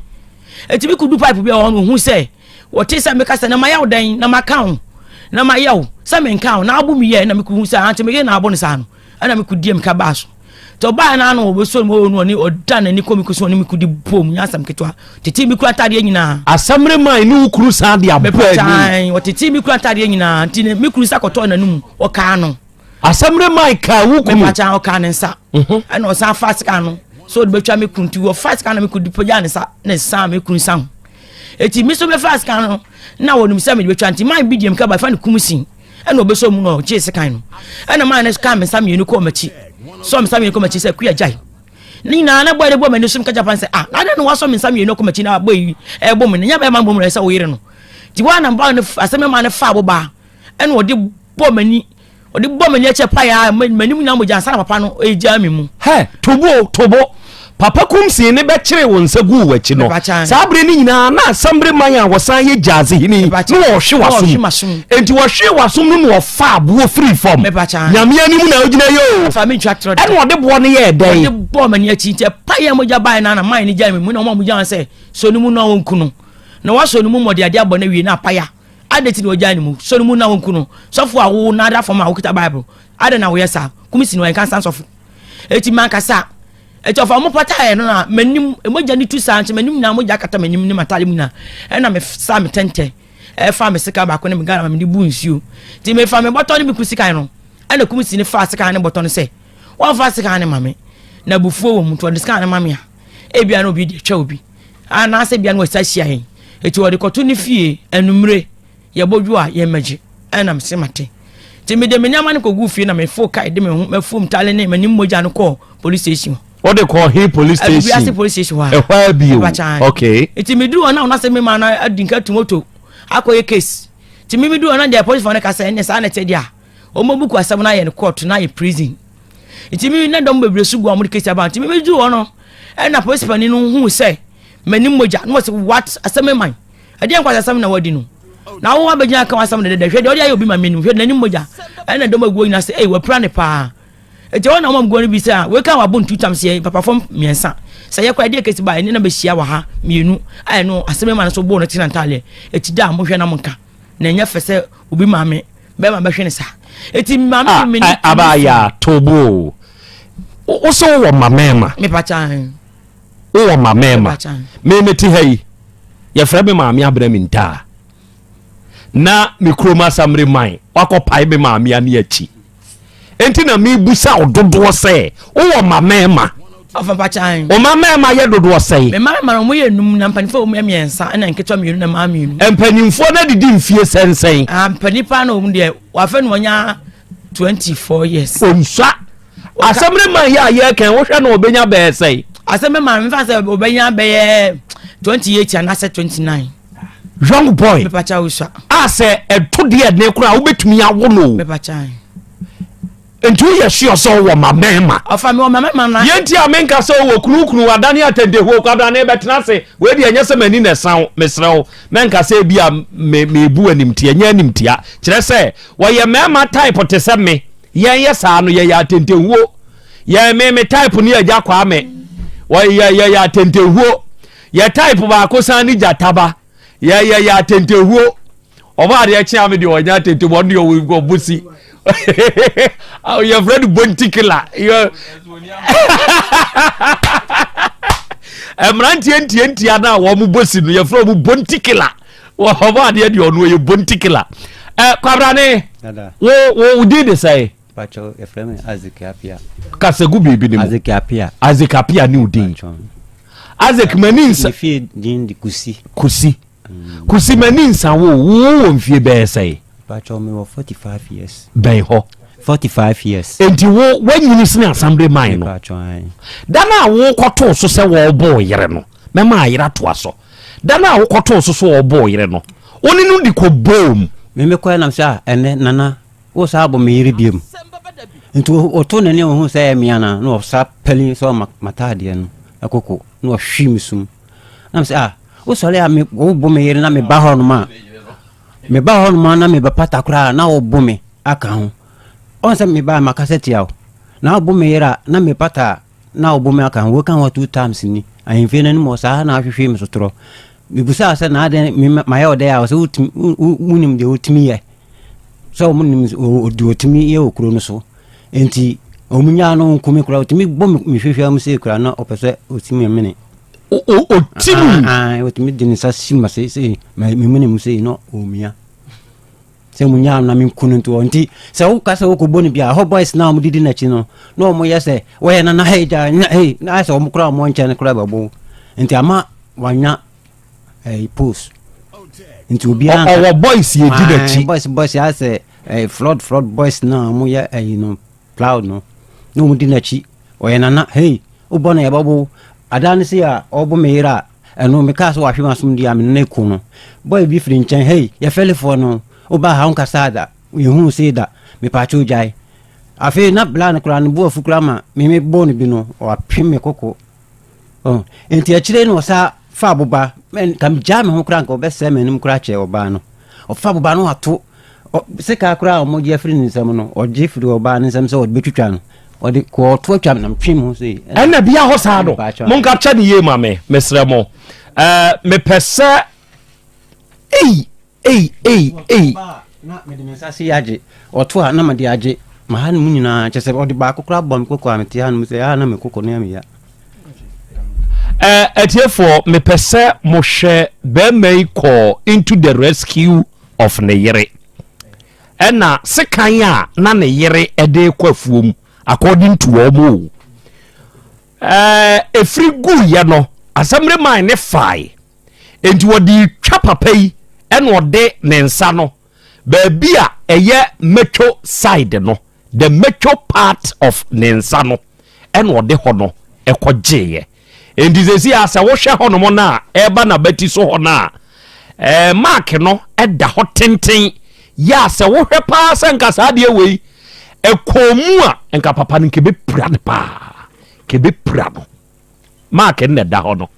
etimi kudu pipe bi a ɔno ohun sɛ Wɔtee sɛ meka sɛ, Na mayɛ wo dɛn? Na maka wo? Na mayɛ wo sɛ menka wo? Na abo meyɛɛ, na mekohu sɛ ante me yere na abo no saa no, ɛnna mekodii amika baa so. Nti ɔbaa na ano wɔbɛsuo no wɔwɔ no ɔne ɔda n'ani kɔ me kusu ɔne me kodi bɔ mu nyɛ asɛm ketewa. Tetee me kura ntadeɛ nyinaa. Asamire maa ɛne wo kuru san de abɔ ani. Mepataae, wɔtetee me kura ntadeɛ nyinaa, nti ne me kuru nsa kɔtɔɔ n'anomu, wɔkaa no. asɛm ne man kaa wo kunu mepakyɛ ɔkaa ne nsa mhm. ɛna ɔsan fa sika no sɛ ɔde bɛtwa me kunu nti wɔfa sika no me kunu pagya ne nsa ne san me kunu nsa ho ɛti me so bɛfa sika no na wɔnim sɛ mede bɛtwa nti man bi deɛm ka bafa ne kum sin ɛna ɔbɛsɔ mu no ɔgyee sekan no ɛna man no kaa me nsa mmienu kɔɔ m'akyi sɔ me nsa mmienu kɔɔ m'akyi sɛ kua gyae ne nyinaa na bɔyɛ de bɔ m'ani so meka japan sɛ ah na adɛn na wasɔ me nsa mmienu kɔ m'akyi na abɔ yi ɛbɔ mu no nyɛ bɛyɛ ma mbɔ mu no ɛsɛ wo yere no nti woana ba no asɛm no ma no fa wo baa ɛna ɔde bɔ m'ani ɔde bɔ m'ani akyɛ pa ya m'anim nyinaa mogya ansa na papa no ɛgyaa me mu hɛ tobo tobo papa kumsee ne bɛkyeree wo nsa guu w'akyi no saa bere no nyinaa na asambere man a wɔsan yɛ gyaadze hene na wɔhwe w'asom enti wɔhwee w'asom no na ɔfa aboɔ firi fam nyame anim na wogyina yɛ o ɛna ɔde boɔ no yɛɛ dɛn ɔde bɔɔ m'ani akyi nti ɛpa yɛ mogya bae no ana man no gyae me mu na ɔma mogya sɛ sɔ no mu na ɔnku no na wasɔ no mu mmɔde ade abɔ no awie na apaya Adɛn nti na wagyae ne mu? Sɔ no mu na wɔnku no. Sɔfo a wowo no ada fam a wokita Bible, adɛn na woyɛ saa? Kum si no, ɛnka nsan sɔfo. Enti mankasa. Enti ɔfa wɔn pataeɛ no na m'anim, mogya no tu saa nso m'anim nyinaa mogya kata m'anim ne m'ataade mu nyinaa. Ɛna mesaa me tɛntɛ, ɛfa me sekan baako ne me Ghana ma mede bu nsuo. Enti mefa me bɔtɔ ne me ku sekan no. Ɛna kum si no faa sekan ne bɔtɔ no sɛ, wɔmfa sekan no ma me. Na abufuo wɔ mu, nti ɔde sekan no ma me a. ebia na obi de atwa obi anaasɛ ebia na wɔsa hyia yɛn eti wɔde kɔto ne fie anumere yɛbɔ dwo a yɛn mɛgye ɛnam se mate nti mede me nneɛma no kɔgu fie na mefo kae de me ho mafom tale ne m'anim mogya no kɔɔ police station wɔde kɔ he police station adubiase police station hɔ a ɛhɔ a bio okay nti meduru hɔ na wɔn asɛ me ma no adi nka tu moto akɔyɛ case nti me meduru hɔ na deɛ police fɔ no ka sɛ ɛnɛ saa na ɛte deɛ a wɔn abuku asɛm no ayɛ no court na ayɛ prison Nti me na dɔm bebree so gu a wɔde kesi aba. Nti me medu hɔ no, ɛna polisi panin no hu sɛ m'ani mogya na wɔsɛ what asɛm me man. Ɛdeɛ nkwa asɛm na wadi no. Na wo abɛgyina aka w'asɛm dɛdɛdɛ hwɛ deɛ ɔde ayɛ obi ma menim hwɛ n'ani mogya. Ɛna dɔm aguo nyina sɛ ei wapira ne paa. Nti wɔn na wɔn guo no bi sɛ a wei ka wabɔ ntu tam sɛ papafo mmiɛnsa sɛ yɛkɔ ɛdeɛ kesi ba ɛne na bɛhyia wɔ ha mmienu a ɛno asɛm ma no so bɔɔ no tena ntaaleɛ ɛti da a mohwɛ na monka na ɛnyɛ fɛ sɛ obi maame bɛma bɛhwɛ ne sa eti maame ah, mi ni ah, aba ya tobo wo sɛ wowɔ ma mɛɛma mepa kyan wowɔ ma mɛɛma memete ha yi yɛfrɛ me maame abrɛ me ntaa na me kurom asamere man wakɔpae me maame ane akyi Enti na mebisa wo dodoɔ sɛ, wowɔ mma mmarima? Ɔfa mpakyan. Wo mma mmarima yɛ dodoɔ sɛn? Me mma mmarima no, wɔyɛ nnum, na mpanimfoɔ wɔ mu yɛ mmiɛnsa, ɛnna nketewa mmienu na mmaa mmienu. Mpanimfoɔ no adidi mfeɛ sɛnsɛn? Ah, mpanin paa na wɔ mu deɛ, wɔafɛ no wɔnya 24 years. Ɔnsua. Asɛm no ma yɛ a yɛrekɛn, wohwɛ no ɔbɛnya bɛyɛ sɛn? Asɛm no ma no, mefa sɛ ɔbɛnya bɛyɛ 28 anaasɛ 29. young boy a sɛ ɛto deɛ ɛne kora a wobɛtumi awo no nti woyɛ sure sɛ wowɔ ma mɛma yɛnti a menka sɛ wowɔ kunukunu adane atɛndehuo kwabrane bɛtena ase wei deɛ ɛnyɛ sɛ m'ani na ɛsa wo meserɛ wo mɛnka sɛ bi a mebu animtia nyɛ animtia kyerɛ sɛ wɔyɛ mɛma type te sɛ me yɛn yɛ saa no yɛyɛ atɛntɛhuo yɛn me me type ne agya kwaa me wɔyɛ yɛyɛ atɛntɛhuo Yɛ type baako san ne gyata ba. Yɛ yɛ yɛ atentehuo. Ɔmo adeɛ kye ame deɛ ɔnyɛ atente mu ɔno deɛ ɔwɔ nkɔ ɔmo si. Yɛ fɛ no bontikila. Mmeranteɛ ntie ntia no a wɔn bɔ si no yɛ fɛ ɔmo bontikila. Ɔmo adeɛ deɛ ɔno yɛ bontikila. Ɛ kwabrane wo wo din de sɛn? Pacho yɛfrɛ me Isaac Appiah. Kasa gu biribi ne mu. Isaac Appiah. Isaac Appiah ne odin. Isaac mani nsa. Ne fie din de Kusi. Kusi. Mm. Kusi mani nsa wo wo wɔ mfie bɛyɛ sɛe? Pacho me wɔ 45 years. Bɛn hɔ. 45 years. Enti wo wanyini sene assembly man no. Pacho an. Da na wo kɔtoo so sɛ wɔbɔ yere no. Mɛma ayera to aso. Da na wo kɔtoo so so wɔbɔ yere no. Wo ne no di kɔ boom. Me me kɔ na sɛ ah, ɛnɛ nana Wo saa bɔ me yere biom. Nti ɔtoo n'ani ɔhuu sɛ ɛyɛ me anaa na ɔsa pɛli sɛ ɔma m'ataadeɛ no ɛkoko na ɔhwii me sum. Na me sɛ ah wosɔre a wobɔ me yere na meba hɔ nom a meba hɔ nom a na mebɛpata koraa na wobɔ me aka ho. Ɔn sɛ meba a makasa tia wo na wobɔ me yere a na mepata a na wobɔ me aka ho. Woka ho two times ni ahemfie no anim hɔ saa na ahwehwee me so torɔ. Mebusaa sɛ na adɛn mayɛ wo dɛn a ɔsɛ wonim deɛ wotumi yɛ. sɛ wɔn nim ɔdi ɔtumi yɛ wɔ kuro no so nti wɔn nyaa no nkumi kura ɔtumi bɔ mi hwehwɛ mu sɛ kura na ɔpɛ sɛ ɔtumi mene ɔtumi ah, ah, ɔtumi de ne nsa si ma sɛ sɛ memene mu sɛ na ɔmia sɛ mu nyaa na menku no ntoɔ nti sɛ woka sɛ wokɔbɔ no bia hɔ boys na ɔmdedi n'akyi no na ɔmoyɛ sɛ wɔyɛ no na hei gya na ayɛ sɛ ɔmo kora ɔmɔ nkyɛn no kora bɛbo nti ama wanya ɛɛ post nti obiara ɔwɔ boys yɛ di n'akyi boys boys yɛ asɛ ɛɛ flood flood boys na wɔn yɛ ɛyi no plow no na wɔn di n'akyi ɔyɛ nana hey o bɔ na yɛ bɔ bo adaa ne se a ɔbɔ mi yera ɛno mi kaa so wahwe ma som di a mi nana eko no boy bi firi nkyɛn hey yɛ fɛlifoɔ no o ba ha nkasa ada yɛ hu se da mi paakye o gyae afei na bla no koraa ne bo afu koraa ma mi mi bɔ no bi no ɔapem mi koko. Oh, nti akyire no ɔsa fa aboba kam gyaa me ho koraa nka ɔbɛsɛe m'anim koraa kyɛ ɔbaa no ɔfa aboba no ato sika koraa a wɔgye afiri ne nsam no ɔgye firi ɔbaa ne nsam sɛ ɔde bɛtwitwa no ɔde kɔ ɔto atwa nam twe mu sɛ ɛna bia hɔ saa no monka kyɛ ne yie ma me mesrɛ mo mepɛ sɛ ei Ei, ei, ei! Ɔto a, na mede me nsa ase agye. Ɔto a, na mede agye. M'ahanom nyinaa, kyerɛ sɛ ɔde baako koraa bɔɔ me koko a, mete hanom sɛ, ah, na me koko no yɛ me ya. Eh, atiefoɔ, mepɛ sɛ mo hwɛ bɛɛma yi kɔɔ into the rescue of ne yere. Ɛna sekan a na ne yere ɛde kɔ afuo mu, according to wɔn o. Eh, efiri gu yɛ no, asɛmre man ne fae. enti ɔde retwa papa yi ɛna ɔde ne nsa no baabi a ɛyɛ metwo side no the metwo part of ne nsa no ɛna ɔde hɔ no ɛkɔ gyeeɛ enti sɛsi a sɛ wohwɛ hɔ nom no a ɛba n'abati so hɔ no a ɛɛ mark no ɛda hɔ tenten yɛ a sɛ wohwɛ paa sɛ nka saa adeɛ wei ɛkɔn mu a nka papa no nka ɛbɛpira no paa nka ɛbɛpira no Mark na ɛda hɔ no.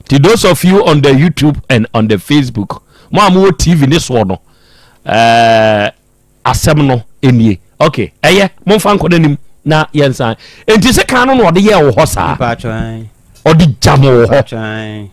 Ti those of you on the YouTube and on the Facebook, mo a mowɔ TV ne soɔ no, ɛɛ eh, asɛm no nie. Ok, ɛyɛ momfa nkɔ n'anim na yɛnsan. Nti sɛ kan no na ɔde yɛ wɔ hɔ saa. Ɔde gya mo wɔ hɔ.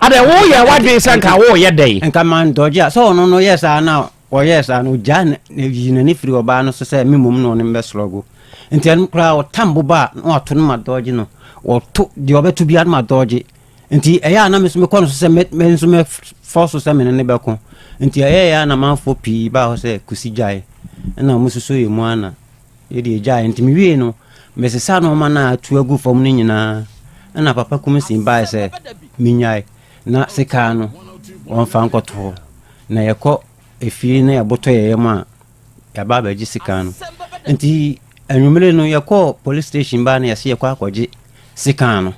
Adɛ woyɛ wadwen sɛ nka woyɛ dɛn? Nka man dɔgye a sɛ ɔno no yɛ saa na Ɔyɛɛ saa no, ogyaa na oyii n'ani firii ɔbaa no so sɛ me mmom na ɔne me bɛsrɔgo. Enti ɛno koraa, ɔtam bo ba a, na wato no ma dɔɔgye no. Ɔto deɛ ɔbɛto biara no ma dɔɔgye. Enti ɛyɛ a na me nso mekɔ no so sɛ me nso mɛfɔ so sɛ me ne no bɛko. Enti ɛyɛeɛ a na amanfoɔ pii baa hɔ sɛ Kusi gyae. Ɛna wɔsusu yɛn mu ara na yɛde yɛgyaeɛ. Enti mewiei no, mesesa nneɛma no a atu agu fam no nyinaa. Ɛna papa Kumsin baeɛ sɛ mennyae, na sekaa no wɔmfa nkɔto hɔ. Na yɛkɔ efie na yɛbotɔ yɛn yam a, yɛaba abɛgye sika no. Nti anwummere no yɛkɔɔ police station baa na yɛse yɛkɔ akɔgye sika no.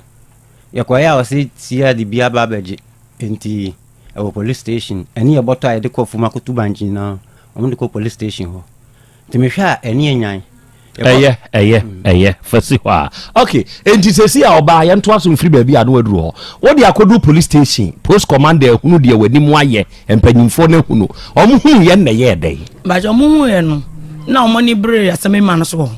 Yɛkɔeɛ a ɔse tia de bi aba abɛgye. Nti ɛwɔ police station ɛne yɛbɔtɔ a yɛde kɔ Fumakoto Bank nyinaa wɔn de kɔ police station hɔ. Nti mehwɛ a ɛne yɛ nyan. Ɛyɛ ɛyɛ ɛyɛ fa si hɔ a ok enti sɛsi a ɔbaa yɛntoa so mfiri baabi a na waduru hɔ wode akɔduru police station post commander ahunu deɛ w'anim ayɛ mpanyimfoɔ no ahunu wɔn hunu yɛ nnɛ yɛɛ dɛn. Bàjẹ́ wɔn hu yɛ no na wɔn ani bere asɛm ema no so wɔ hɔ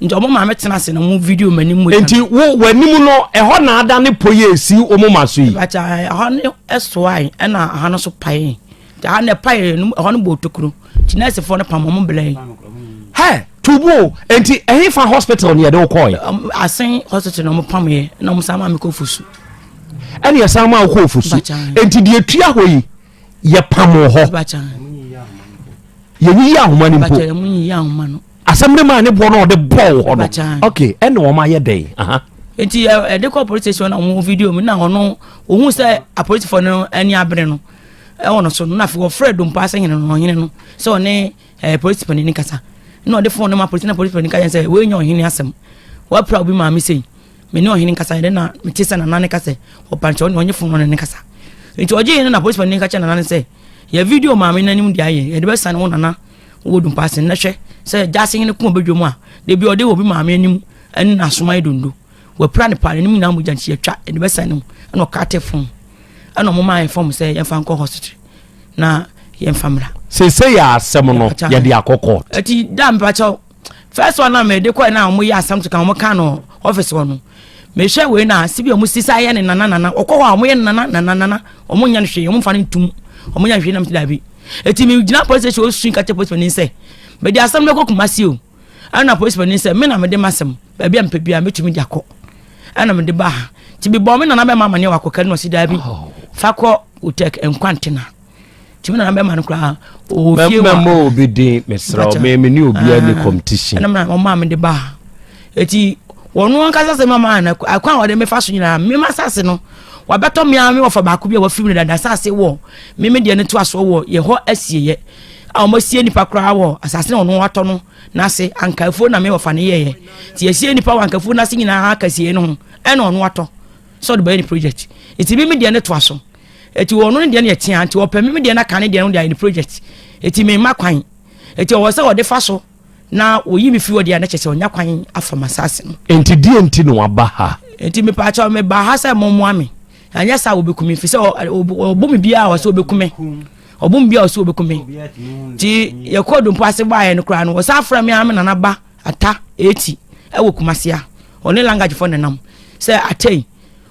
nti wɔn maame tena ase na wɔn video wɔn anim mogya. Nti wo w'anim no ɛhɔ na ada ne po yɛ esi wɔn ma so yi. Bàjẹ́ ɛhɔ ne ɛsoae ɛna ɛha no so pae. daa na ɛpa yɛ no ɛhɔ no bɔ otokuro nti nɛɛsefoɔ no pam ɔmo bela yi hɛ tubu o nti ɛhe fa hospital ni yɛde wokɔ yɛ asen hospital na ɔmo pam yɛ na ɔmo san maa mi kɔ fusu ɛne ɛsan maa wokɔ fusu nti deɛ tua hɔ yi yɛ pam wɔ hɔ yɛnyiyi ahoma no mpo asɛm no maa ne boɔ no ɔde bɔɔ wo hɔ no ok ɛna wɔn ayɛ dɛn aha nti ɛde kɔ police station na wɔn video mu na ɔno ohun sɛ apolisifoɔ no ani abere no ɛwɔ no so no na afei wɔfrɛ dompa asɛ hene no ɔhene no sɛ ɔne ɛɛ polisi panyin kasa na ɔde fone no ma polisi na polisi panyin kasa sɛ wɔnyɛ ɔhene asɛm wɔapira obi maame sɛ me ne ɔhene kasa ɛdɛ na mete sɛ nana ne kasa ɔpankyɛ ɔne ɔnye fone no ne kasa nti ɔgye yɛn na polisi panyin kasa nana ne sɛ yɛ video maame n'anim de ayɛ yɛde bɛsan wo nana wɔ dumpa ase na hwɛ sɛ gyaase hene kɔn bɛdwa mu a da bi ɔde obi maame anim ɛne n'asoma yɛ dondo wɔapira ne paa n'anim nyinaa mogya nti yɛtwa ɛde bɛsɛn ne mu ɛna ɔka te fon ɛna ɔmo maa ɛfɔm sɛ yɛmfa nkɔ hospital na yɛmfa mmra. sese yɛ asɛm no yɛde akɔ court. ɛti da mpakyɛw first one na me de kɔ na wɔn yɛ asam to kan wɔn kan no office hɔ no me hwɛ wei na sibi wɔn sisa yɛ ne nana nana ɔkɔ hɔ a wɔn yɛ nana nana nana wɔn nyɛ no hwee wɔn fa no ntum wɔn nyɛ no hwee nam ti daabi eti me gyina police station osu nkate police panin sɛ me de asam no kɔ kumasi o ɛna police panin sɛ me na me de ma asam baabi a mpɛ bi a metumi de akɔ ɛna me de ba ha ti bi bɔ me nana bɛ ma ma ne wakɔ kari na ɔsi daabi oh. fa kɔ otek nkwantena. tìmí nana bɛ ma no koraa o fie wa mɛmɛ mɔ obi den mesra o mɛ mɛ ni obi a ni ah. competition ɛnam na ɔmaa mi de ba eti wɔn ankasa sɛ mama ana akwan a wɔde mefa so nyinaa mema asase no wabɛtɔ mi ara mi wɔfa baako bi a wɔfiri mi dada asase wɔ mimi deɛ ne to asoɔ wɔ yɛ hɔ asieyɛ a wɔn asie nipa koraa wɔ asase na wɔn atɔ no n'ase ankafuo na mi wɔfa ne yɛyɛ ti asie nipa wɔ ankafuo n'ase nyinaa akasie no ho ɛna wɔn atɔ sɛ ɔde bɛyɛ ne project eti mimi deɛ ne to aso. Eti wɔn no deɛ no yɛ tea nti wɔpɛ me deɛ no aka ne deɛ no de ayɛ ne project eti me mma kwan eti ɔwɔ sɛ ɔde fa so na wɔyi me firi hɔ deɛ a na kyerɛ sɛ ɔnya kwan afa ma saase no. Enti deɛ nti na waba ha. Enti me paakyɛ me ba ha sɛ mo mmoa me anyɛ saa wɔbɛku me firi sɛ ɔbɔ me biara wɔ sɛ ɔbɛku me ɔbɔ me biara wɔ sɛ ɔbɛku me nti yɛkɔ dompo ase baayɛ no koraa no wɔsan afra me ara me nana ba ata eti ɛwɔ kumasia ɔne langagefoɔ nenam sɛ atɛn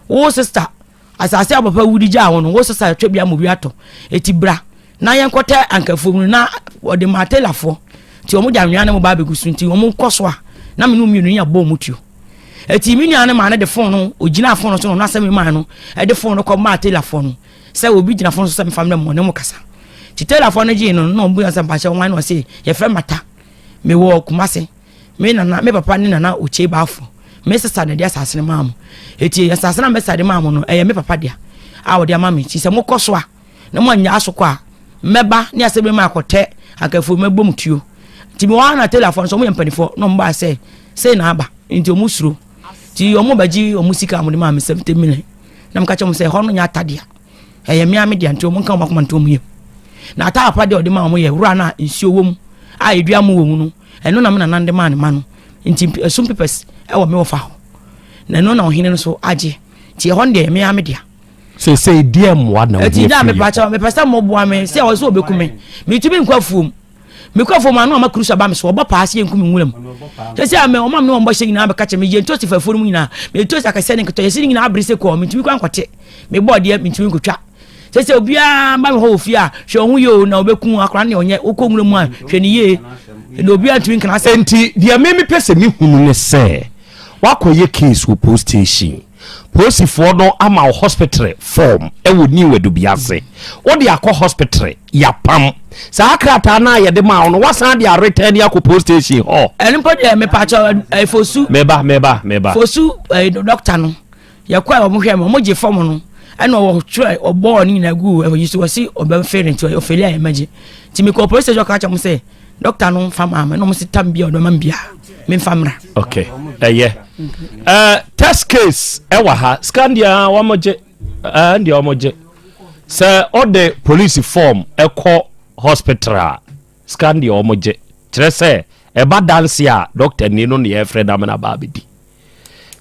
wo sista Asase a papa wu de gyaa hɔ no, wosesa a twabia ma obi atɔ. Enti bra na yɛnkɔtɛ ankafoɔ mu no na wɔde maa telafoɔ. Nti wɔn de anwea ne mo ba abɛgu so. Nti wɔn kɔ so a na me ne wɔn mmienu yɛ bɔ wɔn tuo. Enti me nua no maa no de fon no, ogyinaa fon no so na ɔno asɛm maa no de fon no kɔ maa telafoɔ no sɛ obi gyina fon so sɛ mefa mmerɛ mo ne mo kasa. Nti telafoɔ no gyee no na wɔn bu sɛ mpakyɛ wɔn ano ɔse yɛfrɛ mata mewɔ kumase Me nana, me papa ne nana Okyei Bafo, me sesa na ɛde asase no maa mo. Eti asase no a me sesa de maa mo no, ɛyɛ me papa dea a ɔde ama me. Eti sɛ mokɔ so a na mo anya so kɔ a, mɛba ne asɛm bi ma akɔtɛ akafo mɛbɔ mo tuo. Nti me wɔ na telafo nso ɔmo yɛ mpanimfoɔ na ɔmo baa sɛ sei na aba nti ɔmo suro. Nti ɔmo bɛgye ɔmo sika a ɔmo de maa me seventy million na meka kyerɛ ɔmo sɛ ɛhɔ no nyɛ ata dea ɛyɛ mmea me dea nti ɔmo nka ɔmo akoma nto ɔmo yam. Na ata apa deɛ ɔde maa ɔmo yɛ wura no a nsuo wɔ mu a edua mu wɔ mu no Ɛno na me nanan de maa ne mma no, nti ɛsom pepɛs wɔ me wɔfa hɔ, na ɛno na ɔhene no so agye, nti ɛhɔ no deɛ ɛyɛ me ara me dea. sesei deɛ mmoa na wohia firi mepakyɛ mepɛ sɛ mmoboa me sɛ ɔsɛ ɔbɛku me metumi nkɔ afuom mekɔ afuom ano ama kurusa ba me so ɔbɔ paa sɛ yɛnku me nwura mu sɛ sɛ ame ɔma me ne ɔmbɔhyɛ nyinaa bɛka kyɛ meyɛ ntosi fafuo no mu nyinaa metosi akɛsɛ ne nketɔ yɛse ne nyinaa bere sɛ kɔɔ metumi kɔ ankɔte mebɔɔ deɛ metumi nkɔtwa Sese obiara ba hɔ wɔ fie a hwɛ wɔn ho yie o na wɔbɛku akora ne ɔnyɛ wokɔ nwura mu a hwɛ ne yie na obiara ntumi nkana asɛm. Nti deɛ meme pɛ sɛ mehunu ne sɛ wakɔyɛ case wɔ post station posifoɔ no ama wo hospitre form ɛwɔ new adubi ase wode akɔ hospitre yapam saa krataa no a yɛde ma wo no wasan de aretɛn ne akɔ post station hɔ. Ɛno mpo deɛ mepaakyɛ ɛfosu. Meba meba meba. Fosu ɛɛ dɔkta no. yɛkɔ a wɔn hwɛ mu wɔn gye fam no ɛna wɔtwerɛ wɔbɔɔ ne nyinaa gu ɛyi so wɔsi ɔbɛn fere nti ɔfɛli a ɛmɛgye nti mekɔ polisi station ɔka kyɛm sɛ dɔkta no nfa maa mi na wɔn si tam bia ɔdɔma bia mi nfa mra. ok ɛyɛ ɛɛ test case ɛwɔ ha scan deɛ ah, wɔn gye ɛɛ ah, deɛ wɔn gye sɛ ɔde polisi form ɛkɔ hospital a scan deɛ wɔn gye kyerɛ sɛ ɛba dansi a dɔkta ni no na yɛfrɛ dame na ba abɛdi.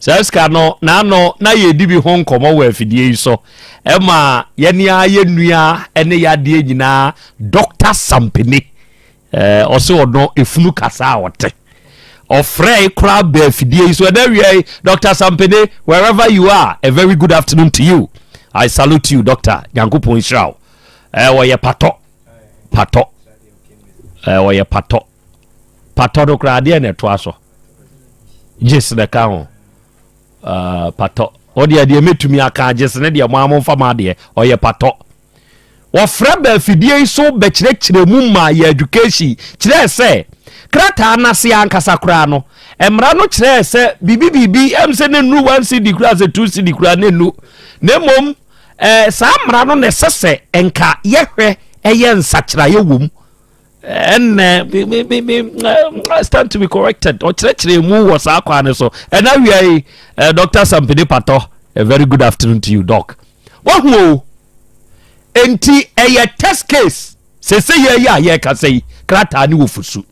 Saa sika no, na ano na yɛredi bi ho nkɔmmɔ wɔ afidie yi so. Ɛma yɛne ara yɛ nua ne yadeɛ nyinaa Dɔkta Sampene. Ɔse ɔno efunu kasa a ɔte. Ɔfrɛe koraa bɛ afidie yi so. Ɛnɛ awia yi, Dɔkta Sampene, wherever you are, a very good afternoon to you. I salute you, Doctor. Nyankopɔn nhyira wo. Ɔyɛ patɔ. Patɔ. Ɔyɛ patɔ. Patɔ no koraa adeɛ na ɛtoa so. Gyes na ɛka ho. Uh, patɔ. Ɔdeɛ deɛ mɛtumi aka gyes ne deɛ mo a momfa ma adeɛ. Ɔyɛ patɔ. Wɔfrɛ bɛ afidie yi so bɛkyerɛkyerɛ mu ma yɛ education kyerɛɛ sɛ krataa no ase ankasa koraa no mmara no kyerɛɛ sɛ biribi biribi ɛm sɛ ne nnu one cd koraa sɛ two cd koraa ne nnu na mmom eh, saa mmara no na ɛsɛ sɛ nka yɛhwɛ ɛyɛ nsakyeraeɛ wɔ mu ɛnɛ bi bi bi bi I stand to be corrected ɔkyerɛkyerɛ mu wɔ saa kwan no so ɛna wia yi eh, Dr. Sampede Patɔ a very good afternoon to you doc wahu o nti ɛyɛ test case sese yɛ yɛ a yɛka sɛ yi krataa ne wɔ fusu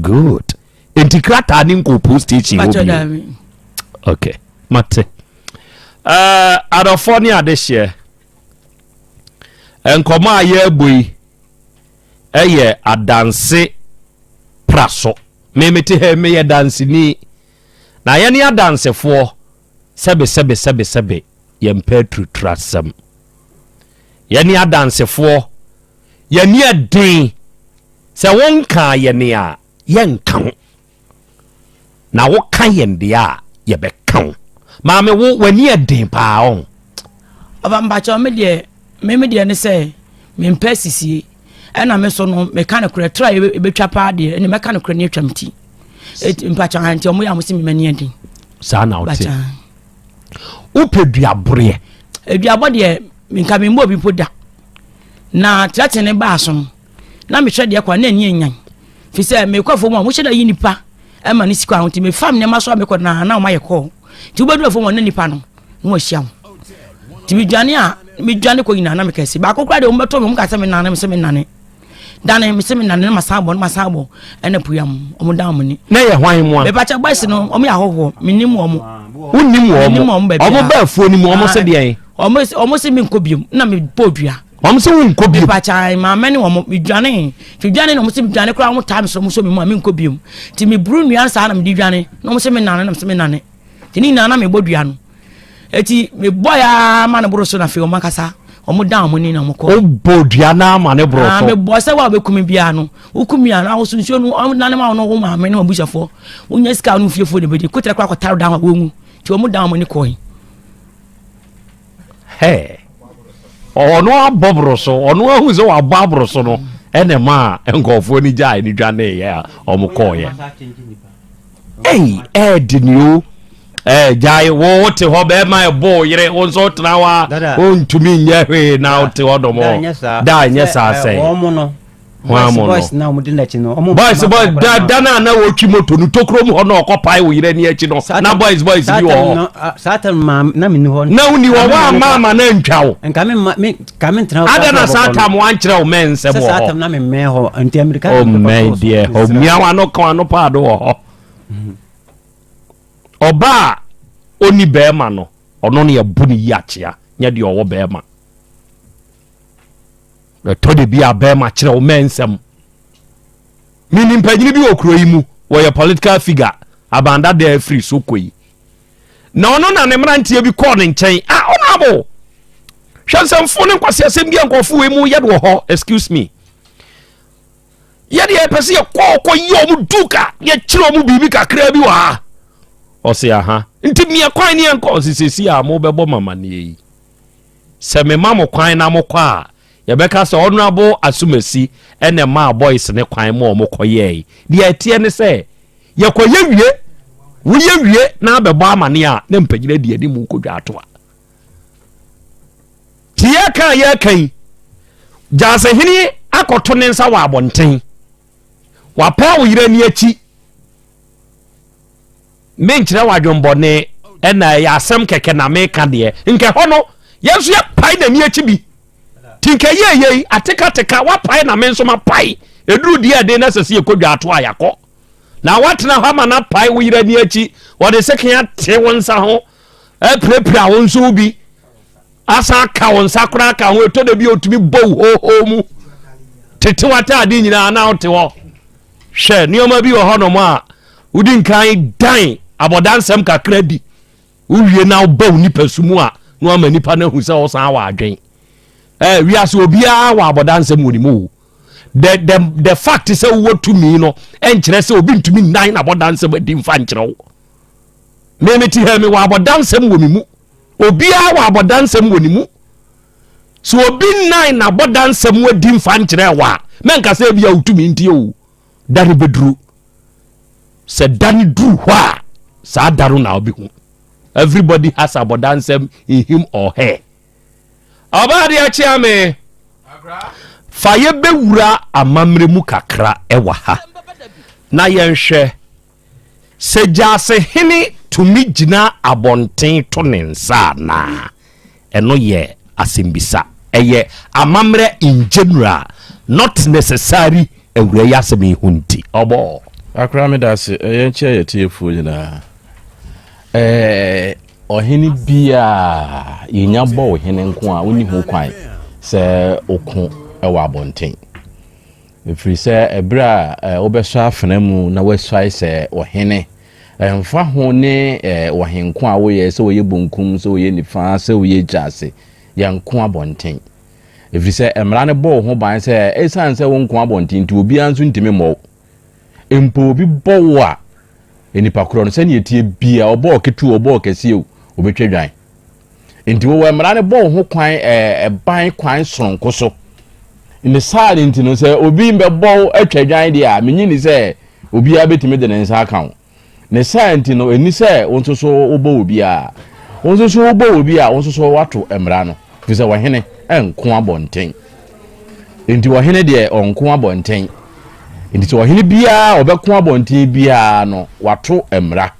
good nti krataa ne nkɔ post station wɔ bi okay mate uh, eh, adɔfoɔ ne adehyeɛ Nkɔmmɔ a yɛrebɔ yi yɛ adanse praso. Me mete ha yi, meyɛ danseni. Na yɛne adansefoɔ, sɛbe sɛbe sɛbe sɛbe, yɛmpɛ aturiturasɛm. Yɛne adansefoɔ, yɛne ɛden. Sɛ wonkaa yɛne a, yɛnka ho. Na wo ka yɛn deɛ a yɛbɛka wo. Maame wo w'ani yɛ den paa ɔn. Ɔba mpakyɛw me deɛ me me deɛ ne sɛ me mpɛ sisie ɛna me so no meka no korɛ tra ɛbɛtwa paa deɛ ɛne mɛka no korɛ ne atwam ti mpakyɛ ha nti ɔmo yɛ ɔmo se me mani adin saa na wote wopɛ duaboreɛ aduabɔ deɛ nka memmɔ obi mpo da na trɛtene baa so no na mehwɛ deɛ kɔ a na ani anyan fi sɛ mekɔ fam a mohyɛ da yi nipa ɛma ne sikɔ ano nti mefam nneɛma so a mekɔ na na ɔmayɛ kɔɔ nti wobɛduru fam a na nipa no na wahyia ho nti medwane a medwane kɔ nyinaa na meka si baako koraa deɛ wɔbɛtɔ me wɔn ka sɛ menane mesɛ menane dane mesɛ menane na masan bɔ na masan bɔ ɛna puya mu wɔn dan wɔn ni na yɛ hwan mu a mepakyɛ bɔsi no wɔn yɛ ahɔhoɔ menim wɔn wonim wɔn wɔn bɛɛ afuo no mu wɔn sɛ deɛ wɔn sɛ menkɔ biom na mebɔ dua wɔn sɛ wɔn nkɔ biem. mipakya maame ne wɔn midwane twidwane na wɔn sɛ midwane koraa wɔn taa mi sɛ wɔn sɛ mi mu a mi nkɔ biem ti mi buru nua saa na mi di dwane na wɔn sɛ mi nane na mi sɛ mi nane ti ne nyinaa na mi bɔ dua no eti mi bɔ ya ma ne boro so na afei wɔn akasa wɔn dan wɔn ni na wɔn kɔ. o bɔ dua na ama ne boro so. aa mi bɔ sɛ wa bɛ kumi bia no o kumi a na wosu nsuo no wɔn nane ma wɔn wɔn maame ne wɔn busuafo wɔn nyɛ sika wɔn fiefo de bɛ di kotara koraa kɔtara dan wɔn wɔn mu ti wɔn dan wɔn ni kɔɔ yi. Hɛɛ. Ɔno abɔ boro so, ɔno ahu sɛ wabɔ aboro so no ɛna ɛmaa nkurɔfoɔ no gyae no dwaneeɛ a wɔn kɔɔeɛ. Ei, ɛɛde ni o. Ɛɛ gyae wo wote hɔ bɛɛma ɛbɔ wo yere wo nso wotena hɔ a wontumi nyɛ hwee na wote hɔ dɔm hɔ. Da nyɛ saa sɛ. Wɔn no boys boys na wɔn di n'akyi no wɔn boys boys da da na na wɔtwi moto no tokuro mu hɔ na ɔkɔ pae wɔ yɛrɛ ni akyi no na boys boys bi wɔ hɔ saa tɛm maa na mi ni hɔ na wuni hɔ wɔn ama ama na ntwa o nka mi ma mi ka mi ntena hɔ ada na saa tɛm wɔn ankyerɛ o mɛn nsɛm wɔ hɔ saa tɛm na mi mɛn hɔ nti amirika o mɛn deɛ o mia wɔn ano kan ano paado wɔ hɔ ɔbaa oni bɛrima no ɔno ne ɛbu ne yi akyea nyɛ deɛ ɔwɔ bɛrima. Ɛtɔ da bi a bɛrima kyerɛ wo mmɛn nsɛm. Menim mpanyini bi wɔ kuro yi mu, wɔyɛ political figure, Abandada afiri so kɔ yi. Na ɔno na ne mmeranteɛ bi kɔɔ ne nkyɛn, a ah, ɔno abo. Hwɛ nsɛmfo ne nkwasi asɛm bi a nkurɔfo wei mu yɛde wɔ hɔ, excuse me. Yɛde yɛpɛ sɛ yɛkɔɔ kɔ yɛ ɔmo duka, yɛkyerɛ ɔmo biribi kakraa bi wɔ ha. Ɔse aha, nti mia kwan ne yɛnkɔ, ɔse sɛsi a mo bɛbɔ mamaneɛ yi. Sɛ mema mo kwan na mokɔ a, yɛbɛka sɛ Honourable Asumasi na ɛmaa boys no kwan ma wɔkɔyɛe. Deɛ ɛteɛ ne sɛ, yɛkɔyɛ wie, woyɛ wie na abɛbɔ amane a, na mpanyin adi anim kɔdwa ato a. Te yɛka a yɛka yi, Gyasehene akɔto ne nsa wɔ abɔnten. Wapaa wo yere ani akyi. menkyerɛ wo adwembɔne ɛna ɛyɛ asɛm kɛkɛ na meka deɛ nkɛ hɔ no yɛn nso yɛpae n'ani akyi bi nti nkɛ yɛ yei atekateka wapae na me nso mapae ɛduru deɛ ɛde na sɛ sɛ yɛkɔ dwa ato a yɛakɔ na woatena hɔ ama no apae wo yerɛ ani akyi wɔde seke ate wo nsa ho apirapira wo nso wo bi asan aka wo nsa koraa ka ho ɛtɔ da bi a ɔtumi bɔ wo hoohoo mu tete w'ataade nyinaa na wote hɔ Hwɛ, nneɛma bi wɔ hɔnom a wodi nkan dan abɔdansɛm kakra di, wowie na woba wo nipa su mu a na wama nipa no ahu sɛ ɔsan wɔ adwen. Eh, wiase obiara wɔ abɔdansɛm wɔ ne mu o. The, the, the fact sɛ wowɔ tumi no ɛnkyerɛ sɛ obi ntumi nnan abɔdansɛm adi mfa nkyerɛ wo. Meme te ha mi wɔ abɔdansɛm wɔ me mu. Obiara wɔ abɔdansɛm wɔ ne mu. sɛ obi nnan n'abɔdansa mu adi mfa nkyerɛ wo a mɛnka sɛ ebia wotumi nti o da no bɛduru sɛ da no duru hɔ a saa da no na wobɛhu everybody has abɔdansɛm in him or her ɔbaa de akyea me fa yɛbɛwura amammerɛ mu kakra ɛwɔ ha na yɛnhwɛ Sɛ Gyasehene tumi gyina abɔnten to ne nsa anaa? Ɛno yɛ asɛmbisa. Ɛyɛ amammerɛ in general, not necessary awura yi asɛm yi ho nti. Ɔbɔɔ. Akora meda ase, ɛyɛ nkyɛ yɛ tiefoɔ nyinaa. Ɛɛ ɔhene bi a yɛnya bɔ wo hene nko a wonni ho kwan sɛ oko wɔ abɔnten. Ɛfiri sɛ ɛberɛ a wobɛsɔ afena mu na woasuae sɛ ɔhene, ɛmfa ho ne w'ahenko a woyɛ, sɛ ɔyɛ bonkum, sɛ ɔyɛ nifa, sɛ ɔyɛ agya ase, yɛnko abɔnten. Ɛfiri sɛ mmara no bɔ wo ho ban sɛ ɛsiane sɛ wonko abɔnten nti obiara nso ntumi mmɔ wo. Mpo obi bɔ wo a, nnipa korɔ no sɛdeɛ ɛteɛ biara, ɔbɔ wo ketewa, ɔbɔ wo kɛseɛ o, ɔbɛtwa dwan. Nti wowɔ mmara no bɔ wo ho kwan ɛban kwan soronko so. Ne saa ne nti no sɛ obi mbɛbɔ wo atwa dwan deɛ a menyi ni sɛ obiara bɛtumi de ne nsa aka wo. Ne saa nti no ɛni sɛ wo nso so wobɔ wɔ biara. Wo nso so wobɔ wɔ bi a wo nso so wato mmara no. Firi sɛ ɔhene ɛnko abɔnten. Nti ɔhene deɛ ɔnko abɔnten. Nti sɛ ɔhene biara ɔbɛko abɔnten biara no wato mmara.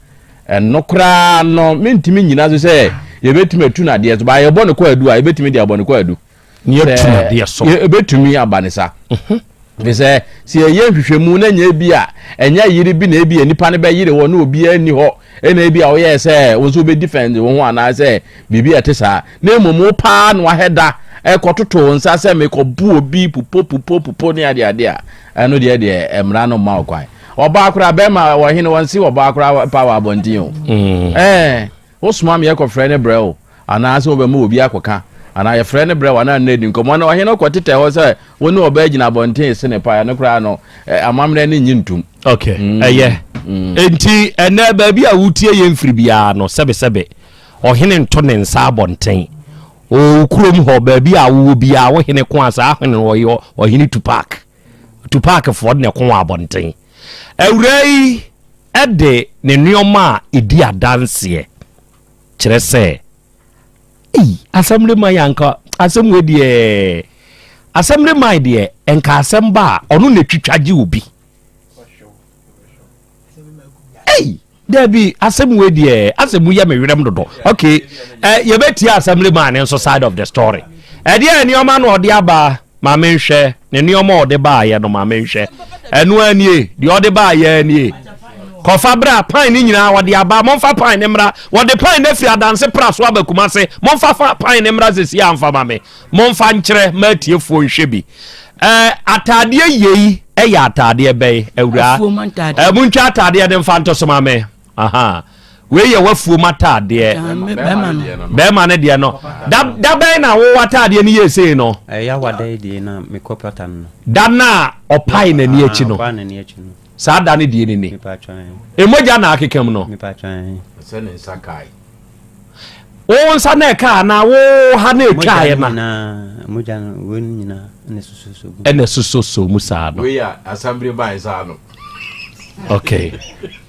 Ɛno koraa no, merentumi nnyina so sɛ yɛbɛtumi atu no adeɛ so. Baa yɛbɔ no kwaadu a, yɛbɛtumi de abɔ no kwaadu. Ne yɛatu no adeɛ so. Ɛbɛtumi aba ne sa. Mhm. Ɛfiri sɛ, sɛ yɛyɛ nhwehwɛmu na nyɛ bi a, ɛnyɛ yere bi na ebi a nipa no bɛyere hɔ na obiara nni hɔ ɛna ebi a woyɛɛ sɛ wo nso wobɛdi fɛnde wo ho anaasɛ biribi a ɛte saa. Na mmom wo paa na wahɛ da ɛkɔtoto wo nsa sɛ mekɔbu obi pupo pupo pupo ne adeade a, ɛno deɛ deɛ mmara no mma wo kwan. Ɔbaa koraa bɛrima wɔ hene wɔn si ɔbaa koraa pa wɔ abɔnten o. Mm. Ɛɛ wosoma mi ɛkɔ frɛ ne brɛ o anaasɛ wɔbɛma obi akɔka anaa yɛfrɛ ne brɛ o anaa nna adi nkɔmɔ na ɔhene kɔ tetɛ hɔ sɛ wo ne ɔbaa gyina abɔnten se ne pa ɛno koraa no amammerɛ ne nye ntum. Okay mm. ɛyɛ mm. nti ɛnɛ baabi a wotie yɛn firi biara no sɛbesɛbe ɔhene nto ne nsa abɔnten o kurom hɔ baabi a wowɔ biara wo hene ko a saa hene ɔhene tu park. Tupac foɔ na ɛko wɔ abɔnten. Awuraa yi de ne nneɛma a ɛdi adanseɛ kyerɛ sɛ ei asɛm de man anka asɛm wei deɛ asɛm de man deɛ nka asɛm ba a ɔno na ɛtwitwa gye obi. ei dabi asɛm wei deɛ asɛm mu yɛ me werɛm dodo ok eh, yɛbɛtie assembly man ne nso side of the story ɛdeɛ eh, nneɛma na ɔde aba ma menhwɛ ne nneɛma a ɔde baayɛ no ma menhwɛ ɛno anie deɛ ɔde baayɛ anie kɔfa bra pan ne nyinaa wɔde aba momfa pan ne mmra wɔde pan no afiri adanse pra so aba kuma se momfa fa pan ne mmra sɛsi amfama me momfa nkyerɛ ma atiefoɔ nhwɛ bi Ɛɛ, ataadeɛ yei yɛ ataadeɛ bɛn, awuraa? Afuom ataadeɛ. Ɛɛ, montwa ataadeɛ no mfa nto so ma me. Aha. Wei yɛ w'afuom ataadeɛ. Ah, me- bɛrima no. Bɛrima no deɛ no. Da da bɛn na wo ataadeɛ no yɛɛ sei no? Ɛyɛ awada yi deɛ na mekɔ pata no no. Da no a ɔpae n'ani akyi Ah, no. ɔbaa n'ani akyi no. Saa da no deɛ ni ni. Mepa atwa ɛ. Mmogya na akeka mu no. Mepa atwa ɛ. Sɛ ne nsa kae. wo nsa na ɛka anaa wo ha na ɛtwaeɛ na mogya no wei no nyinaa ɛna ɛsosɔsɔ mu ɛna ɛsosɔsɔ mu saa no wei a asambere bae saa no okay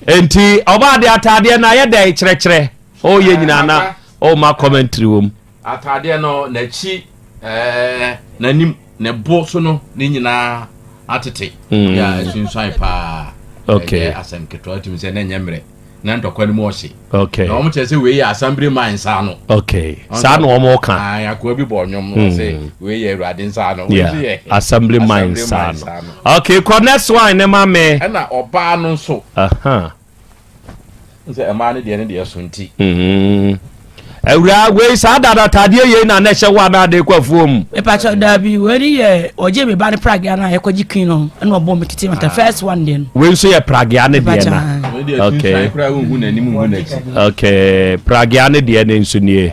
enti ɔbaa de ataadeɛ no ayɛ dɛn kyerɛkyerɛ ɔyɛ eh, nyinaa na ɔma commentary wɔ mu ataadeɛ no n'akyi ɛɛ eh, n'anim Ne bo so no ne nyinaa atete mm. yɛ a ɛsunsuan paa ɛyɛ asɛm ketewa wotumi sɛ na ɛnyɛ mmerɛ na ntɔkwa no mu ɔhye na wɔn kyerɛ sɛ wei yɛ asambere man nsa no saa na wɔn ka akoa bi bɔ ɔnwom no sɛ mm. wei yɛ awurade nsa no asambere man nsa no okay kɔ next one ne ma me ɛna ɔbaa no nso N sɛ mmaa no deɛ ne deɛ so nti. Awura wei saa dada ataadeɛ yei na na ɛhyɛ wo anaa de kɔ afuo mu. Mepakyɛ daabi wei ne yɛ ɔgye me ba ne pragea no a yɛkɔgye kin no ɛna ɔbɔ me tete mata first one deɛ no. Wei nso yɛ pragea ne deɛ na. Okay. Okay pragea ne deɛ ne nso nie.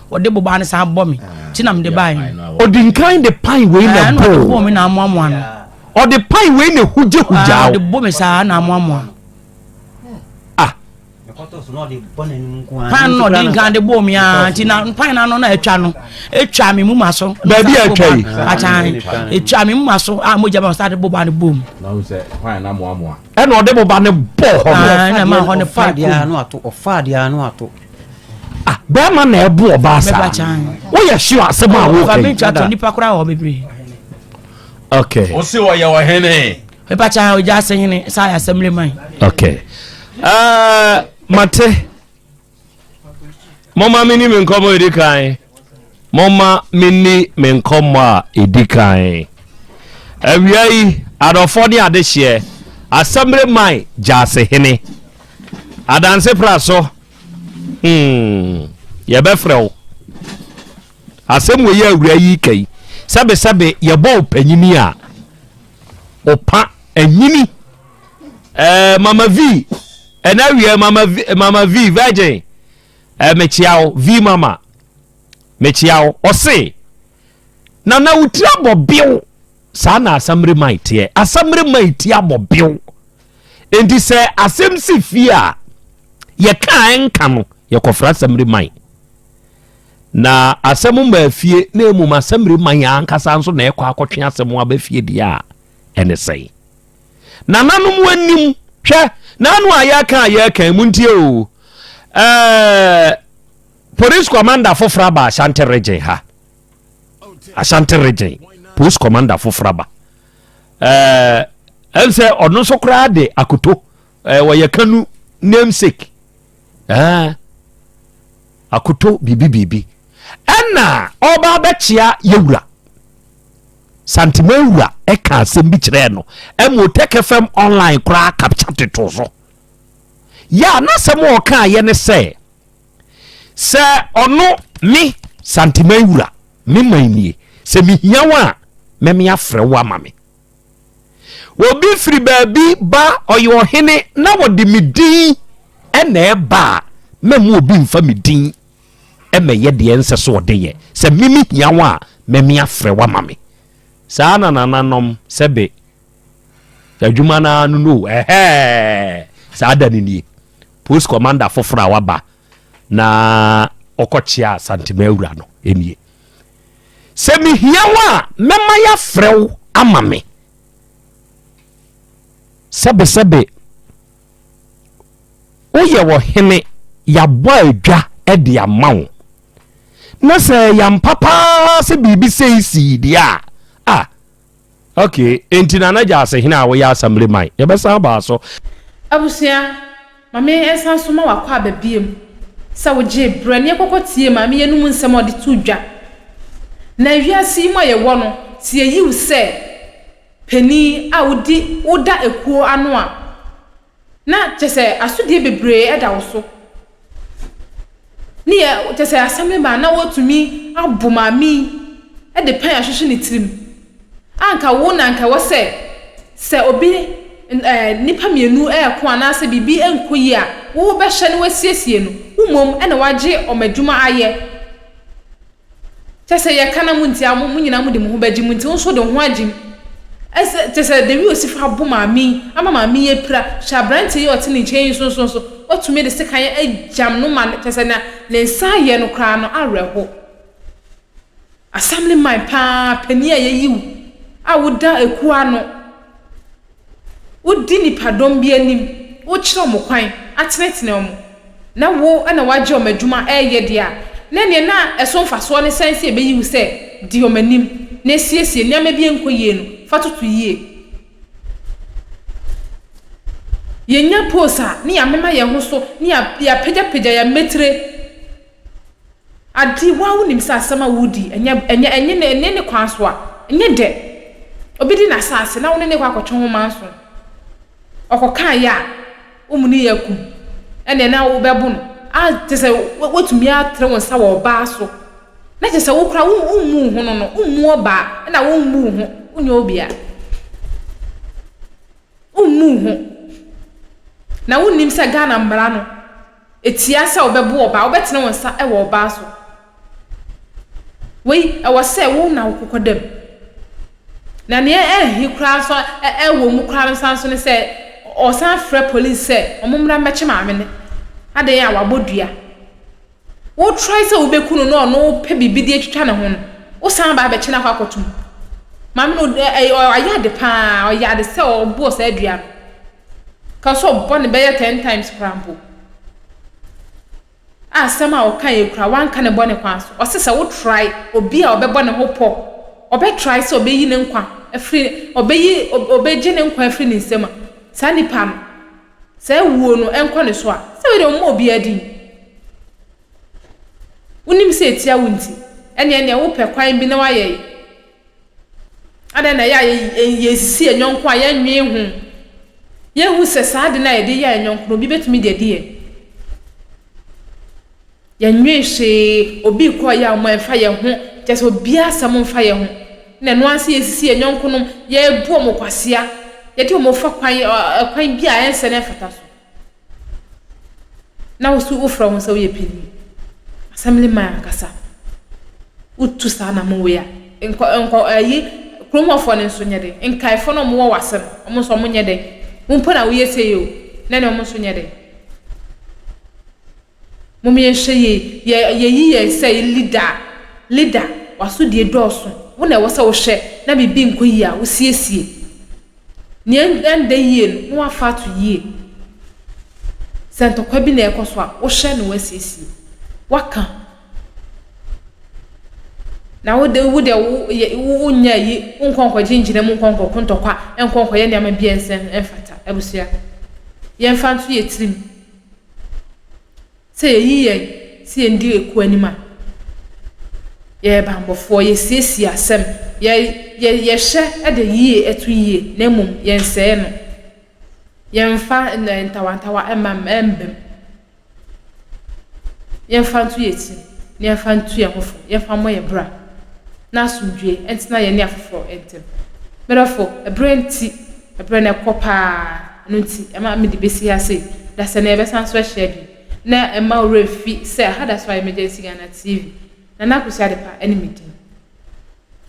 wɔde bobaa no san bɔ me nti na mede bae ɔdi nkan de pan wei na eh, bɔɔ me na amoamoa no ɔde pan wei na hugyahugya ah, ɔde bɔ me saa na amoamoa no ah. pan no ɔde nkan de bɔɔ me a ah, nti na pan no ano na atwa no atwa me mu ma so baabi atwa yi akyan atwa me mu ma so a mogya ma sa de bobaa no bɔɔ mu ɛna ɔde bobaa no bɔɔ hɔ no ɛna ma hɔ no pan kum ah bɛrima na ɛbu ɔbaa saa woyɛ hyew asɛm a wokai okay ɔse ɔyɛ ɔhene mepakya ɔgya ase hene saa yɛ asɛm leman okay uh, mate moma me ni me nkɔmmɔ ɛdi kan Momma minni me nkɔmmɔ a edi kan. Awia yi, adɔfoɔ ne adehyeɛ, Asɛmre man gyasehene, Adanse pra so, hmm, yɛbɛfrɛ wo. Asɛm wei a awuraa yi reka yi, sɛbesɛbe yɛbɔ wo panyini a, ɔpa anyini. Eh, Mama Vee, ɛnɛ awia yi, Mama Vee, Mama Vee, virgin. Eh mekyea wo V-mama mekyea wo ɔse na na wo tiri abɔ bew saa na asamire mai teɛ asamire mai ti abɔ bew enti sɛ asɛm si fie a yɛka a ɛnka no yɛkɔfra asamire mai na asɛm ma fie na mmom asamire mai ankasa nso na ɛkɔ akɔtwe asɛm aba fie deɛ a ɛne sɛn Nananom wɔnnim. Hwɛ, n'ano a yɛka a yɛka yi, montie o. Eh, police commander foforɔ aba Ashanti region ha. Ashanti region, police commander foforɔ aba. Eh, ɛm sɛ ɔno nso koraa de akoto. Eh, wɔyɛ kanu namesake. Eh, akoto biribi biribi. Ɛna ɔba abɛkyea yɛwura. Santemawura ɛka asɛm bi kyerɛɛ no ɛma Otɛkɛ fam online koraa kapkya totoo so. Yɛ a n'asɛm a ɔkaa yɛ ne sɛ, Sɛ ɔno, me, Santemawura, me man nie, sɛ mehia wo a, mɛme afrɛ wo ama me. Obi firi baabi ba, ɔyɛ ɔhene na wɔde me din ɛna ɛba a, mɛma obi mfa me din mɛyɛ deɛ ɛnsɛ sɛ ɔde yɛ, sɛ me mehia wo a, mɛme afrɛ wo ama me. Saa na nananom sɛbe adwuma no ara no no o, ɛhɛɛ, saa da no nie. Post commander foforɔ a waba na ɔkɔkyea Santema awura no nie. Sɛ mehia wo a, mɛma yɛafrɛ wo ama me. Sɛbesɛbe Woyɛ ɔhene, yɛabɔ adwa de ama wo, na sɛ ɛyɛ ampa paa sɛ biribi sei sii deɛ a, a ok, enti Nana Gyasi hene a woyɛ asɛmble man, yɛbɛsan abaa so. Abusua, ma me nsan so ma wakɔ aba biom sɛ wogyee berɛ ne yɛkɔkɔ tiee maame yi anom nsɛm a ɔde too dwa. Na wiase yi mu a yɛwɔ no, sɛ yɛyi wo sɛ. panin a wodi woda akuo ano a na kyerɛ sɛ asodie bebree da wo so ne yɛ kyerɛ sɛ assembly man na watumi abo maame yi de pɛn ahwehwe ne tirim a nka wo na nka ɛwɔ sɛ sɛ obi ɛɛ nipa mmienu ɛɛko anaasɛ biribi ɛnko yi a wobɛhyɛ no wasiesie no wo mmom ɛna wagye ɔmo adwuma ayɛ. Kyɛ sɛ yɛka na montie a, mo nyinaa mode mo ho bɛgye mu, enti wo nso de wo ho agye mu. Ɛsɛ, kyɛ sɛ Dewi Osifo abo maame yi, ama maame yi apira. Hwɛ aberanteɛ yi a ɔte ne nkyɛn yi nso so, watumi de sekan agyam no ma no, kyɛ sɛ nea ne nsa ayɛ no koraa no, awerɛhoɔ. Assemblyman paa, panin a yɛayi wo, a woda akuo ano. Wodi nnipadɔm bi anim, wokyerɛ wɔn kwan, atenetene wɔn, na wo na woagye wɔn adwuma reyɛ deɛ a, na nea na ɛso mfasoɔ no sɛn sɛ ɛbɛyi wo sɛ di wɔn anim na siesie nneɛma bi a ɛnkɔ yie no fa toto yie. Yɛnya post a, na yɛamema yɛn ho so, na yɛapagyapagya yɛn mmatire. Ade, woaa wonim sɛ asɛm a woredi ɛnyɛ, ɛnyɛ, ɛnye ne, ɛnye ne kwan so a, ɛnyɛ dɛ. Obi di n'asaase na wo ne no rekɔ akɔtwe wo manso, ɔkɔ kaa yɛ a, wo mu ne yɛ akum, ɛneɛ na wo bɛbo no, a kyerɛ sɛ woatumi atere wo nsa wɔ ɔbaa so, na kyerɛ sɛ wo koraa wo, wo mmu wo ho no no, wo mmu ɔbaa, ɛna wo mmu wo ho, wo nyɛ obia. Wo mmu wo ho. Na wo nnim sɛ Ghana mmara no. etia sɛ wobɛbo ɔbaa, wobɛtene wo nsa wɔ ɔbaa so. Wei, ɛwɔ sɛ wo na wokokɔ dam. Na nea ɛnhe koraa nso ɛwɔ mu koraa no san nso ne sɛ ɔsan frɛ polisi sɛ wɔmmra mmɛkye maame no. Adɛn a wabɔ dua. Wotrae sɛ wobɛku no na ɔno wopɛ biribi de atwitwa ne ho no, wosan ba abɛkye no akɔ akɔtom. Maame no, ɔyɛ ade paa, ɔyɛ ade sɛ ɔbɔɔ saa dua no. Ka sɛ ɔbɔ no bɛyɛ ten times koraa mpo, a asɛm a ɔka yɛ kura wanka ne bɔne kwan so. Ɔse sɛ wo try obi a ɔbɛbɔ ne ho pɔ, ɔbɛ try sɛ ɔbɛyi ne nkwa afiri, ɔbɛyi, ɔbɛgye ne nkwa afiri ne nsam a, saa nipa no, sɛ awuo no ɛnkɔ ne so a, sɛ wei deɛ ɔmmɔ obiara din. Wonim sɛ ɛtia wo nti, ɛneɛ neɛ wopɛ kwan bi na wayɛ yi. Adɛn na ɛyɛ a yesisi yɛn yɔnko a yennwen ho? Yenhu sɛ saa ade no a yɛde yɛ yɛn yɔnko no, obi betumi de adi yɛn. Yennwen hwee, obi rekɔ ɔyɛ a, wɔn ɛmfa yɛn ho, kyerɛ sɛ obiara asɛm mfa yɛn ho. Na ɛno ara nso yesisi yɛn yɔnkonom, yɛbu wɔn kwasea, yɛde wɔn fa kwan ɔkwan bi a ɛnsɛ na ɛmfata so. na wo so wofrɛ wo ho sɛ woyɛ panyin, assemblyman ankasa, wotu saa anamɔ wei a, nkɔ nkɔ ayi kurom hɔfoɔ no nso nyɛ dɛ, nkaefoɔ no wɔwɔ w'ase no, wɔn nso wɔn nyɛ dɛ, wo mpo na woyɛ sei o, na ne wɔn nso nyɛ dɛ. Mom yɛnhwɛ yie yɛ yɛyi yɛ sɛ leader a leader wasodie dɔɔso wo na ɛwɔ sɛ wohwɛ na biribi nkɔ yie a wosiesie nea ɛnda yie no na wafa ato yie sɛ ntɔkwa bi na ɛkɔ so a wohwɛ na wasiesie waka na wode wode wo yɛ wo wonya yi wonkɔ nkɔgye ngyina mu nkɔ nkɔko ntɔkwa nkɔ nkɔyɛ nneɛma bi a ɛnsɛ ɛmfata abusua yɛmfa nto yɛ tirim. Sɛ yɛyi yɛn sɛ yɛn di ekuo anim a, yɛyɛ banbɔfoɔ, yɛsiesie asɛm, yɛ, yɛ, yɛhwɛ de yie ɛto yie na mmom yɛnsɛe no. Yɛmfa ntawantawa mma mmam. Yɛmfa nto yɛn tirim na yɛmfa ntu yɛn ho fo, yɛmfa mmɔ yɛn bra na asomdwoeɛ ntena yɛne afoforɔ ntam. Medɔfo, ɛberɛ nti, ɛberɛ no ɛkɔ paa. Ɛno nti, ɛma mede besi ha se, dasani a yɛbɛsan so ahyia bio na ɛmma wo werɛ mfi sɛ ɛha da so a Emergency Ghana TV. Nana Akosua Adepa ne me din.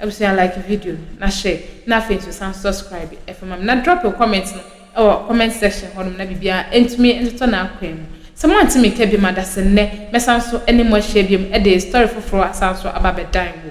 Abusua like video no na share na afei nso san subscribe fa ma me na drop wo comment no wɔ comment section hɔ nom na biribiara ntumi ntotɔ n'akwan mu. Sɛ moante me nka biom a, dase nnɛ mɛsan so ne mo ahyia biom de story foforɔ asan so aba abɛdan wo